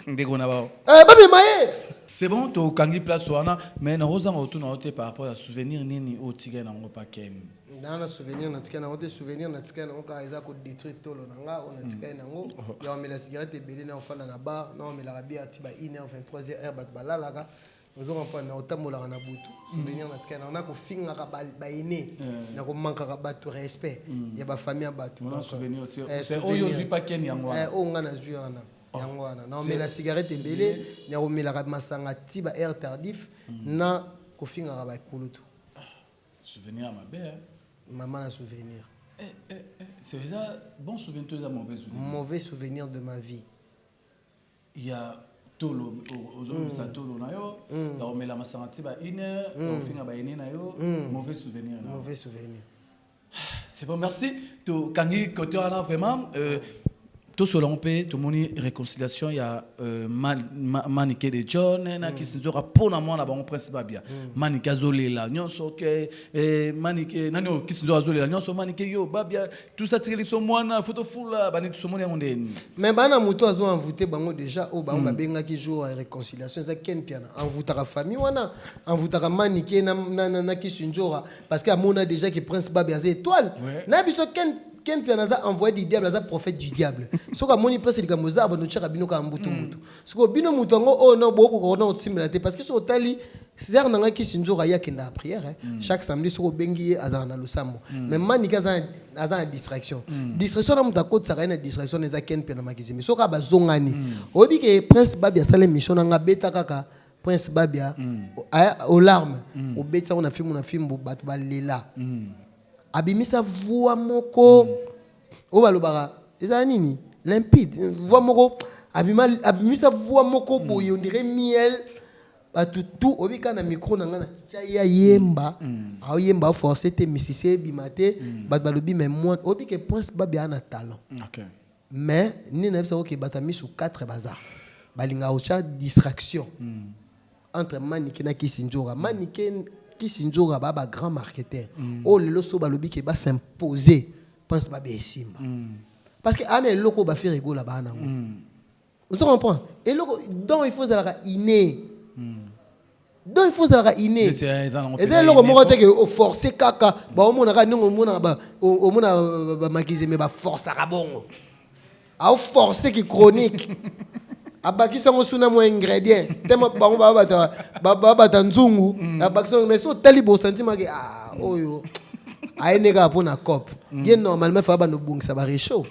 Ndeko na bao. Eh ba mema ye. C'est bon to kangi place wana mais na roza ngo tuna ote par rapport ya souvenir nini o tika na ngo pa kem. Na na souvenir na tika na ngo te souvenir na tika na ngo ka eza ko détruire tolo na nga on a tika na ngo ya omela cigarette ebele na ofanda na bar na omela ka bière ti ba 1h 23h heure batu balalaka Ozo comprendre na otambolaka na butu souvenir na tikala na ko fingaka ba ba aîné na ko mankaka batu respect ya ba famille ya batu Mwana donc souvenir otie- eh, c'est souvenir. oyo ozwi pa Ken yango wana. Eh, oyo nga nazwi wana yango wana na omela cigarette ebele na komelaka masanga ti ba air tardif na kofingaka bakulutu Souvenir ya mabe. hein. mama na souvenir Eh, eh, eh. C'est eza bon souvenir to eza mauvais souvenir. mauvais souvenir de ma vie ya tolo ozolobisa tolo na yo ya komela masanga ti ba une heure ya kofinga ba aine na yo mauvais souvenir na yo c'est bon merci tokangi kote wana vraiment euh, tosolo yango mpe tomoni réconciliation ya euh, manike de john eh, na mm. kisinzoka mpo na mwana bango prince babia mm. manike azolela nyonso ke eh, manike eh, nani oyo kisinzoka azolela nyonso manike yo babia Tout ça tireli biso mwana faut tofula bani tosomoni yango ndeni. Mais bana moto azo envoûter bango déjà oyo bango babengaki jour ya réconciliation eza Ken Mpiana envoutaka famille wana envoutaka Manike na, na, na, na Kisindjora parce que amona déjà que Prince Babe aza étoile Ouais. na biso Ken Ken Mpiana aza envoyé du diable aza prophète du diable soki amoni place likambo eza abanda otyaka bino kaka mbutu mbutu Sikoyo bino moto yango oyo na bokoka kona kotimbela te parce que soki otali sœur na ngai kisi nzoka ye akendaka prière hein. Mm. chaque samedi soki obengi ye azala na losambo mm. mais manike aza aza na distraction mm. distraction na moto akotisaka ye na distraction eza ken mpe na makizimi soki kaka bazongani mm. oyebi ke prince babi asala émission na ngai abeta kaka prince babia mm. olarme mm. obetisa yango na fimbu na fimbu bato balela mm. abimisa voix moko mm. oyo balobaka eza nini limpide voix moko abima abimisa voix moko hmm. boye ondire miel bato tu obika na micro na ngai natya ye ayemba hmm. aoyemba aforce te misisi ebima te hmm. bato balobi mai mwa obike prince babia na talent mais nini nayebisa oke bato ya misu 4 baza balingaka otya distraction entre manike na kisindjora manike kisindjora ba ba grand marketeur mm. oyo oh, lelo so balobi ke ba s'impose pense babe esimba mm. parce que ana eloko bafere egola baa nango mm. ozo comprendre eloko donc il faut ozalaka inné mm. donc il faut ozalaka inné eza eloko moko te ke oforce oh, kaka baomonaka ndenge omonaka omonaka bamakise me baforcaka bongo Au force ki chronique. abakisa ngo suna mwa ingredient tellement bango babata babata nzungu mm. abakisa ngo mais so tali bo sentiment ke ah oyo ayende kaka mpo na cop mm. ye normalement fa banda obongisa barechaud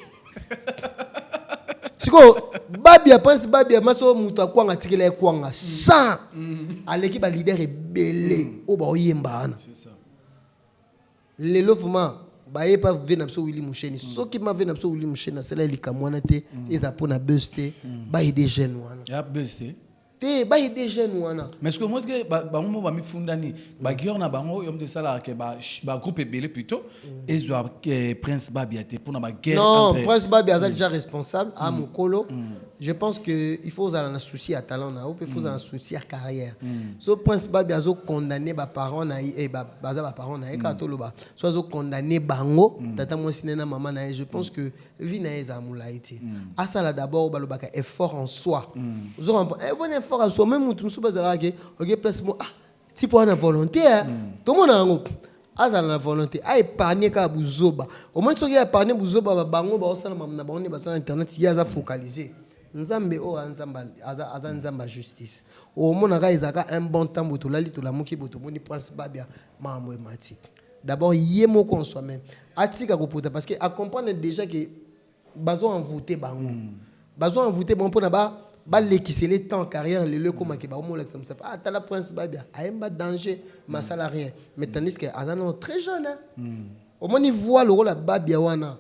sikoyo babi ya prince babi ya maso moto akwanga atikela ye kwanga sans mm. aleki balider ebele oyo baoyemba wana Lelo vraiment baye pa vie na biso Willy Musheni soki ma vie na biso Willy Musheni asala ye likambo wana te ezala mpo na buzz te ba aider jeune wana ya buzz te te ba aider jeune wana mais soki omoni ke ba- bango moko bamifundani baguilleur na bango oyo moto esalaka ke ba- bagroupe ebele plutôt ezwa ke prince babia te mpo na baguerre non prince babi aza déjà responsable a mokolo je pense que il faut ozala na souci ya talent na yo mpe faut ozala na mm. souci ya carrière mm. so prince babi azo condamne baparent na ye eh, baza baparent na ye kaka mm. toloba so azo condamne bango tata mwasi na ye na mama na ye je pense que vie na ye ezala molai te asala d'abord balobaka effort en soi ozo eh, bon effort en soi meme motu mosusu bazalaka ke oke place mo ah tipo wana volonté eh. mm. tomona yango azala na volonté aépargne kaka buzoba omoni soki aépargne buzoba babango baosala na bango nde baza na internet ye aza focalise nzambe oyo aza nzambe ya justice omonaka ezalaka un bon temps bo tolali tolamuki bo tomoni prince babia makambo emati d'abord ye moko en soi-même atika kopota parce que acomprendre déjà ke Bazo envouter bango bazo envouter bango pona ba ba lekisele temps carrière lelo ekoma ke bakomi olakisa musapi ah tala prince babia ayemba danger mais asala rien mais tandis que aza nano très jeune hein omoni voix lokola babia wana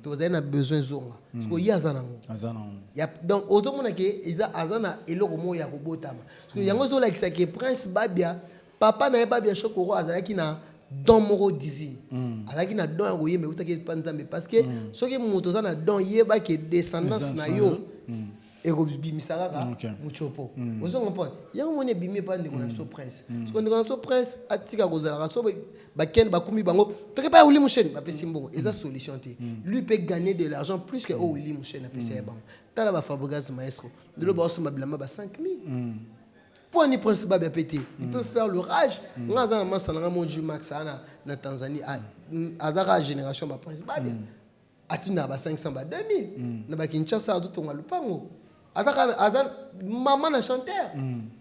tozali na besoin ezonga sikoyo ye aza nango aza nango ya donc ozo mona ke eza aza na eloko moko ya kobotama sikoyo yango ezo lakisa ke prince babia Papa na ye Babia Shokoro azalaki na don moko divine mm. azalaki na don ya koyemba eutaki epa nzambe parce que mm. soki moto oza na don yeba ke descendance na yo mm. ekobimisa kaka mm, okay. mocopo mm. ozo comprendre yango moni ebimi epa ndeko na mm. biso prince mm. siko ndeko na biso prince atika kozalaka so bakende bakumi bango toke epai ya wili musheni bapesi mbongo mm. eza solution te mm. lui mpe gagner de l'argent plus que oyo oh, wili musheni apesa ye bango tala bafabrigas maestro lelo baosomba bilamba ba 5000 Point ni principe babia pe te. Il peut faire le rage. Nga aza na masta na nga Monju Max ana na Tanzanie a aza ka generation ba principe babia. Atindaka ba 500 ba 2000 na ba Kinshasa azo tonga lupango. Aza ka aza mama na chanteur.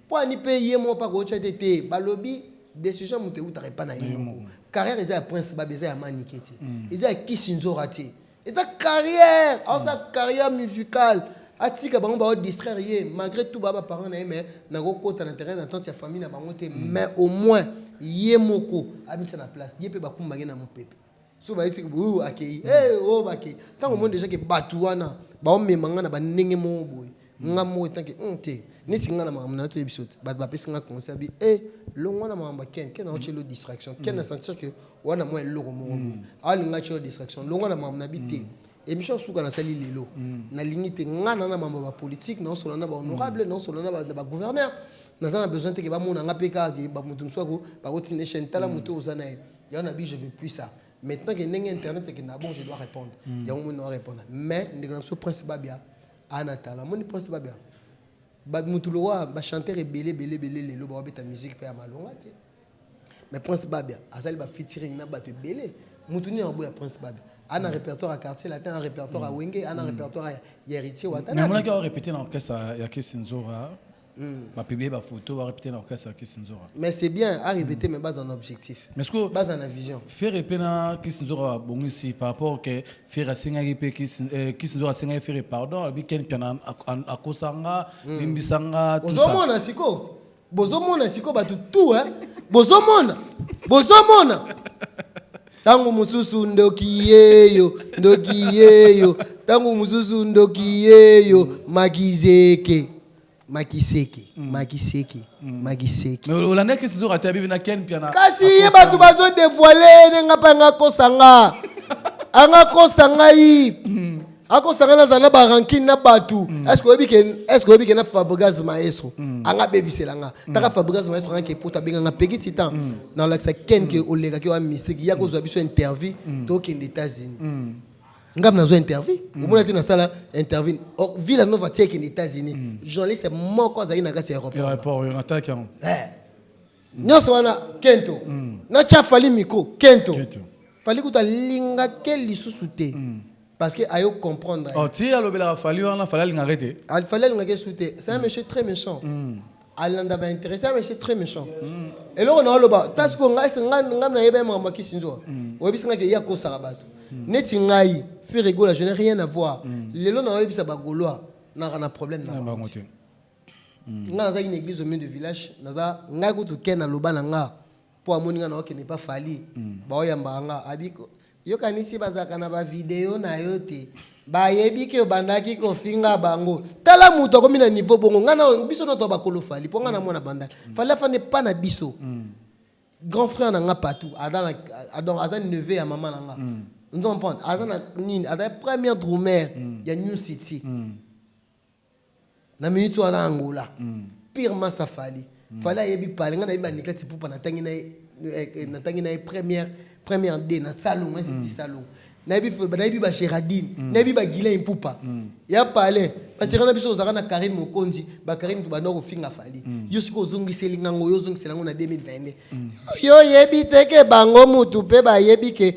Po ani pe ye moko pa ko tia te te balobi decision moto ewutaka epa na ye moko. Carrière eza ya prince babia eza ya manike te. Eza ya kisi nzora te. eza carrière aosa carrière musicale atika bango bao distraire ye malgré tout baa ba parents na ye mais nakokota na terrain d'attente ya famille na bango te mais au moins ye moko abimisa na place ye mpe bakumbaki na mopepe so bayeti oyo akei hey, oyo bakei ntango omoni deja ke bato wana baomema ngai na bandenge moko boye nga moko etanke hum te neti nga na makambo na yo toyebi biso te bato bapesi nga conseil abi e eh, longwa na makambo ya ken ken aotye lo distraction ken na sentir ke wana mwa eloko moko boye mm. alinga atye yo distraction longwa na makambo na bi te mm. émission suka nasali lelo mm. nalingi te nga na na mambo ya bapolitike naosola na bahonorable naosola na bagouverneur naza na besoin te ke bamona nga mpe kaka ke bamoto mosusu ako bakotina chaîne tala moto oza na ye yango na bi je veux plus ça maintenant ke ndenge internet ekenda bon je dois répondre yango moni na wa répondre mais ndeko na biso prince babia Aah na tala omoni pwasa ba bengaka ba mutu lokola ba chanteur ebele ebele ebele lelo bao beta musique pe ya malonga te mais prince babia asali ba featuring na batu ebele mutu nini akoboya prince babia ana mm. répertoire ya quartier latin ana répertoire ya mm. wenge ana mm. répertoire ya héritier wata mais amonaki au répéter na orchestre ya Kiss Nzora Hmm. ba publier ba photo ba répéter na orchestre Kiss Nzora mais c'est bien a répéter mais base en objectif mais ce que base en vision faire répéter na Kiss Nzora bon ici par rapport que faire asengaki pe Kiss euh, Kiss Nzora asengaki faire pardon abi ken piana akosanga hmm. limbisanga tout ça ozomona siko bozomona siko bato tout hein bozomona bozomona ntango mosusu ndoki yeyo ndoki yeyo ntango mosusu ndoki yeyo makizeke makiseke mm. makiseke mm. makiseke olandaki sizo rate ya bibi na ken mpiana kasi ye bato bazo devoile ne nga mpe anga kosa nga anga kosa ngai mm. akosa ngai nazala na barankine na bato eske oyebi ke na fabrigas maestro anga abebisela nga taka fabrigas maestro anga kepota abenga nga peki titan nalakisa ken ke olekaki wa mystique ya kozwa biso interview tokende états-unis nga mpe nazwa interview mm. omona te nasala interview vila nova ti ekende états-unis mm. journaliste moko azali na kati ya aéroportnataki yango eh. nyonso wana kento mm. natya fali miko kento fali kuta alingake lisusu te parce que ayo comprendre oh, ti alobelaka fali wana fali alingaka te fali alingaka esu te c'est un monsieur très méchant alanda ba interesse ya monsieur très méchant eloko na oloba ta sikoyo ngai se- ngai ngai nayeba ye makambo ya kisinzwa oyebisi ngai ke ye akosaka bato neti ngai firigola je n'ai rien à voir lelo na oyebisa bagolois naka na problème na na bango bango te ngai naza une église au milieu de village naza ngai kutu ken aloba na nga Po amoni nga nako kende epa Fally bao yambaka nga abi yo kanisi bazalaka na ba video nayo te ba yebi ke obandaki ko finga bango tala mutu akomi na niveau bongo nga na biso nioso toza ba kolo Fally po nga na mona banda Fally afanda epa na biso grand frère na nga Patou aza na donc aza neveu ya maman na nga ozo comprendre aza na nini aza première drumeur ya new city Na minute wana Angola pire mass ya Fally. Fally ayebi pale nga nayebi Anikette Ipupa natangi na ye natangi na ye première première de na salongo institut salongo nayebi nayebi ba Geradine nayebi ba Guylain Ipupa ya pale ba sera na biso ozalaka na Carine Mokonzi ba Carine tobanda kofinga Fally yo sikoyo ozongiseli nga ngo yo ozongisela ngo na 2022 yo oyebi te ke bango mutu pe bayebi ke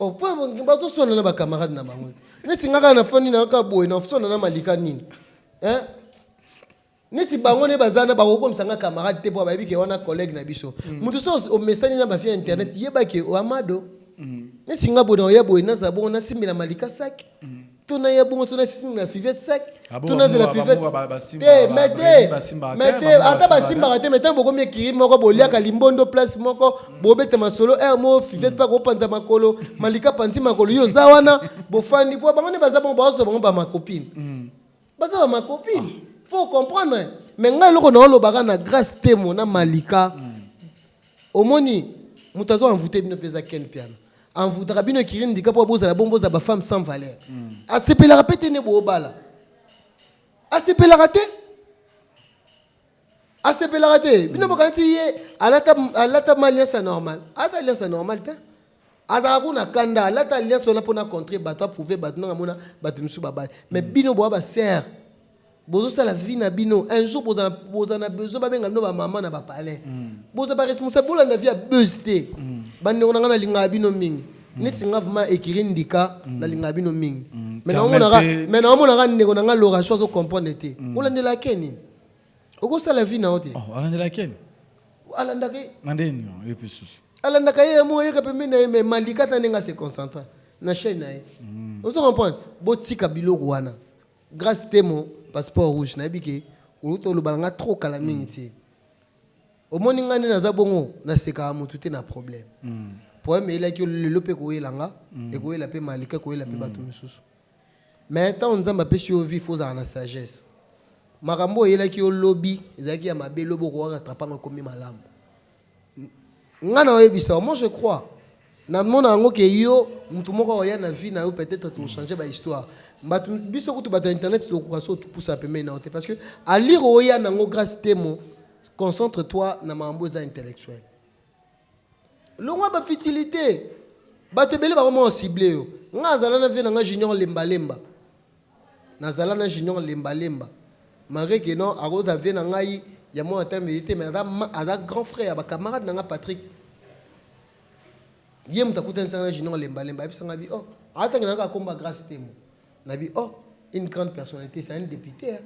Oh po bazo swana na ba camarades na bango. Neti nga kaka na fandi na kaka boye na swana na Malika nini? Hein? neti bango nde baza na bakokomisa nga camarade te mpo bayebi ke wana collègue na biso mm. moto so omesani na bafia internet mm. yeba ke oamado mm. neti nga boye naoya boye naza bongo nasimbela malika saki tuna ye bongo tuna sini na fivette sec ah tuna zela fivette te mais te mais te ata basimbaka te mais ntango bokomi ekiri moko boliaka limbondo place moko mm. bobeta masolo er mo fivette mpe mm. akopanza makolo malika panzi makolo yo oza wana bofandi mpo bango nde baza bongo baoso bango bamakopine mm. baza ba ma copine faut comprendre mais ngai eloko naolobaka na grace temo na malika omoni moto azo envoute bino mpenza ken piano envoutaka bino ekirini ndika mpo bozala bongo bozala bafemme sans valeur asepelaka mpe te ne boobala asepelaka te asepelaka te bino bokanisi ye alata, alata ma alliance ya normal alata alliance ya normal te azalaka kuna kanda alata alliance wana mpona contre bato aprouve bato ndenge amona bato mosusu babali mais bino boa basere bozosala vie na bino un jour bozala boza na besoin babenga bino bamama na bapalais mm. boza baresponsable bolanda vie ya buse te mm. bandeko na ngai nalingaka bino mingi mm. neti nga vraimen ekiri ndika nalingaka bino mingi me naomonaka ndeko na ngai loration azo comprendre te olandela keni okosala vie na yo te oh, alandela ken alandaka ye na nde nini yo mpe susu alandaka ye yango oyeka pembeni na ye me malika ata ndenge ase concentra na chaine na ye mm. ozo comprendre botika biloko wana grâce temo passeport rouge nayebi ke oluta olobala nga trop kala mm. mingi te omoni nga nde naza bongo nasekaka motu te na problème mm. problème eyelaki lelo mpe koyela nga ekoyela mpe malika ekoyela mpe bato mosusu Mais tango nzambe apesi yo vie faut ozala na sagesse makambo oyo eyelaki yo lobi ezalaki ya mabe lobi okoka rattrape yango ekomi malamu nga na oyebisa yo moi je crois namona yango ke yo motu moko oya na vie na yo peut-être tochange ba histoire bato biso kutu bato ya internet tokoka so topusa pembeni na yo te parce que alire oya nango grace temo concentre toi na makambo eza intellectuel Longwa ba futilite. Bato ebele ba koma ko cibler yo. Nga na zala na vieux na nga Junior Lemba Lemba. Na zala na Junior Lemba Lemba. Malgre que non ako za vieux na ngai ya mwana talo meli te mais aza grand frère ya ba camarade na nga Patrick. Ye moto akutanisa nga na Junior Lemba Lemba. Ayebisa nga bi oh. Aza tangela nga kombo ya Grace Temo. Na bi oh une grande personnalité c'est un depute hein.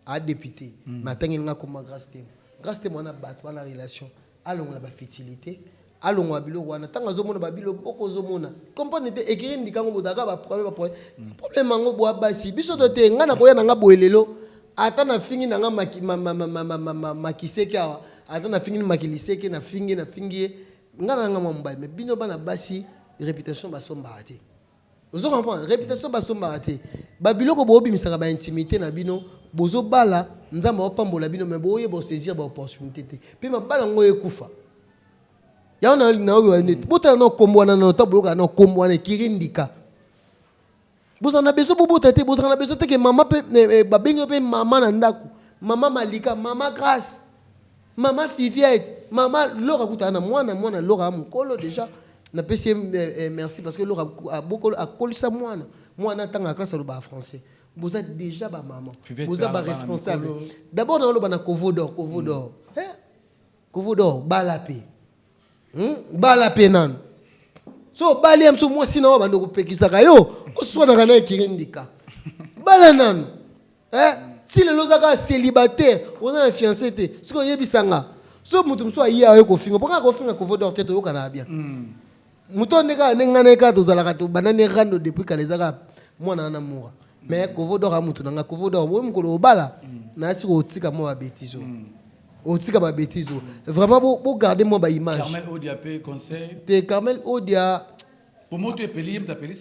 a depute mais atangeli nga akoma grace temo grace temo wana bato wana relation alongola ba futilite alongola biloko wana ntango azomona babilo boko ozomona comprendre te ekiri ndika yango botaka baproblème baproblème mm. problème yango bwa basi biso to te ngai nakoya na ngai boye lelo ata nafingi na ngai makiseke awa ata nafingi makiliseke nafingi nafingi ye ngai na ngai mwa mobali me bino bana basi reputation basombaka te Ozo comprendre? Reputation ba sombaka te. Ba biloko bo bimisaka ba intimite na bino, bozo bala, Nzambe ao pambola bino mais bo yeba o saisir ba opportunite te. Pe mabala ngo ekufa. Yango na na oyo ane bo tala na kombo wana na to boyoka na kombo wana ekiri ndika. Bozala na besoin bo bota te, bozala na besoin te ke mama pe ba bengi yo pe mama na ndaku. Mama Malika, mama Grace. Maman Fiviette, maman Laura akutana na mwana, mwana Laura mukolo deja napesi ye merci parce que Laura abokolo akolisa mwana, mwana atanga classe alobaka français. Boza deja ba maman, Fivette boza ba alobaka na responsable. mikolo. D'abord naoloba na Kovo d'or, Kovo d'or. Eh, Kovo d'or bala pe. Hmm? Bala pe nanu. So obali ya biso mwasi na oyo bando kopekisaka yo, oswanaka na ye kirindika. Bala nanu. eh ti lelo oza kaka celibataire oza na fiance te soki oyebisa nga so moto mosusu aye aye kofinga mpo kaka kofinga kovo dor te toyokanaka bien mm. moto oyo nde kaka nde ngai na ye kaka tozalaka tobanda nde rando depuis kala eza kaka mwana wana mura mais kovo dor amoto na ngai kovo dor oyo mokolo obala mm. nayasi kotika mwa babetise oyo mm. otika babetise oyo vraiment bogarde mwa baimage te carmel odia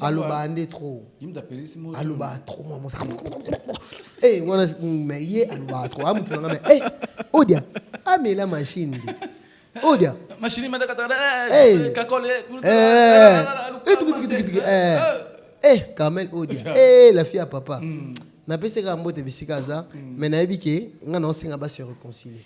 alobaa nde trop alobaa trop mwa mosa e wana me ye alobaa trop amutu nanga me e odia amela machine nde odia e carmel odia e la fille ya papa napesaka mbote bisika aza me nayebi ke ngai naosenga basi reconcilier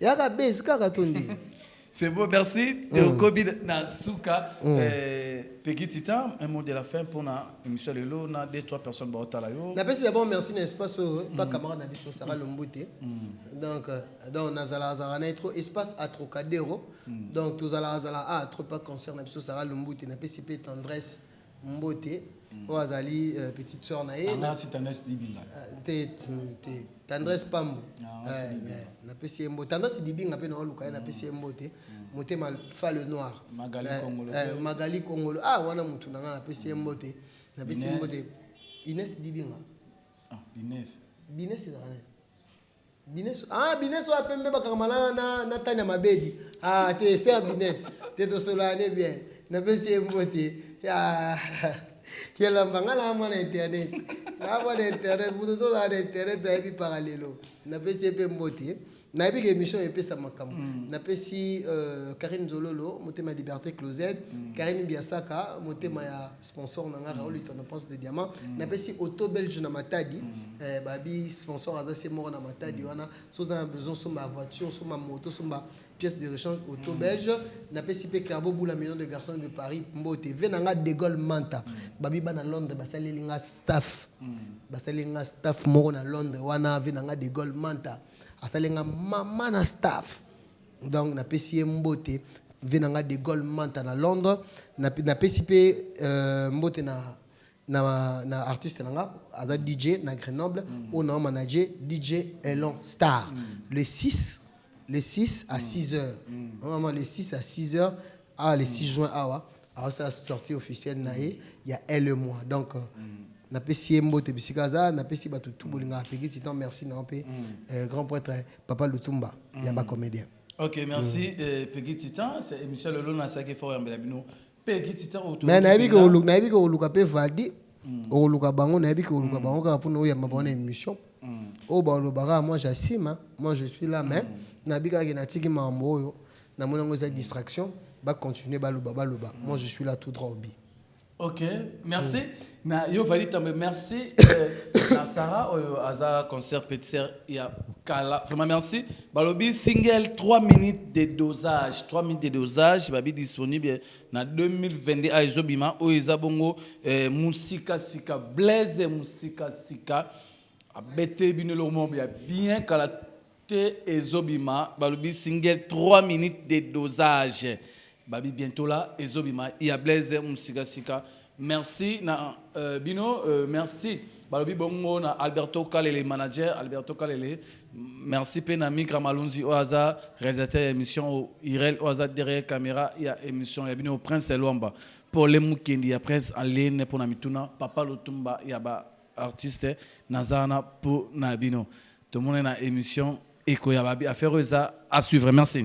yaka base kaka to ndenge C'est beau, merci. Mm. Kobi na suka mm. eh, Peggy Titan, un mot de la fin pour na émission de l'eau, na deux trois personnes ba otala yo. Na pesi d'abord merci na espace euh, mm. pas camarade na biso Sarah mm. Lombute. Mm. Donc euh, donc na zala zala na trop espace à Trocadéro. Mm. Donc tous zala zala à trop pas concert na biso Sarah Lombute na pesi pe tendresse. Mbote oyo azali euh, petite sœur na ye anga si tendresse dibinga euh, te te tendresse mm. pambu euh, napesi ye mbote tendresse dibinga mpe naoluka ye napesi ye mbote mm. motema fa le noir magali kongolo ah wana motu na ngai napesi ye mm. mbote napesi ye mbote ines dibinga ah, bines ezalaka Bineso ah bineso ya pembe bakangama na na na tani ya mabedi ah te se ya binette te tosolola ne bien napesi ye mbote ya kelamba nga naa mwana internet naa mwana internet moto tozala na internet nayebi paka lelo napesi ye mpe mbote nayebi ke émission epesa makambo mm. napesi euh, karine zololo motema liberté closed mm. karine biasaka motema ya sponsor na nga Raoul mm. Itono Prince de Diamant mm. napesi auto belge na Matadi mm. eh, babi sponsor aza se moko na Matadi mm. wana so oza na besoin somba voiture somba moto somba pièce de rechange auto mm. belge napesi mpe Clabo Boula million de garçons de Paris mbote ve na nga De Gaulle Manta mm. babi bana Londres basaleli nga staff mm. basaleli nga staff moko na Londres wana ve na nga De Gaulle Manta asaleli nga mama na staff Donc na pesi ye mbote vie na nga de Gaulle Manta na Londres na, na pesi pe euh, mbote na na, na artiste na nga aza DJ na Grenoble mm. oyo na manager DJ Elon Star mm. le 6 le 6 à 6 heures mm. vraiment le 6 à 6 heures ah le 6 juin awa ah, alors ça sortie officielle na ye ya elle et moi donc euh, napesi ye mbote bisika aza napesi bato tu bolinga apekisi temps merci na yo mpe euh, grand prêtre papa lutumba mm. ya ba comédien ok merci mm. eh, pegi titan c'est émission lelo na saki fort yambela bino pegi titan auto mais nayebi ke oluka nayebi ke oluka pe valdi mm. oluka bango nayebi ke oluka mm. bango kaka pona oyamba bango na émission mm. oyo balobaka moi j'asime moi je suis là mais mm. nayebi kaka ke natiki makambo oyo namoni yango eza distraction bacontinue baloba baloba mm. moi je suis là tout droit obi Ok, merci. Mm. Na yo vali tambe merci euh, na Sarah oyo oh, aza concert petser ya kala. Vraiment merci. Balobi single 3 minutes de dosage, 3 minutes de dosage babi disponible na 2022 a ezobima oyo eza bongo euh, musika sika blaise musika sika abete bino lomo ya bien kala te ezobima balobi single 3 minutes de dosage. Babi bientola ezo bima ya Blaise musika sika merci na uh, bino uh, merci balobi bongo na Alberto Kalele manager Alberto Kalele merci pe na Migra Malunzi oyo aza réalisateur ya émission Irel oyo aza derrière caméra ya émission ya bino Prince Elwamba Pole Mukendi ya Prince Alene pona mituna Papa Lutumba ya ba artiste naza wana po na bino tomona na émission ekoya babi affaire oyo eza à suivre merci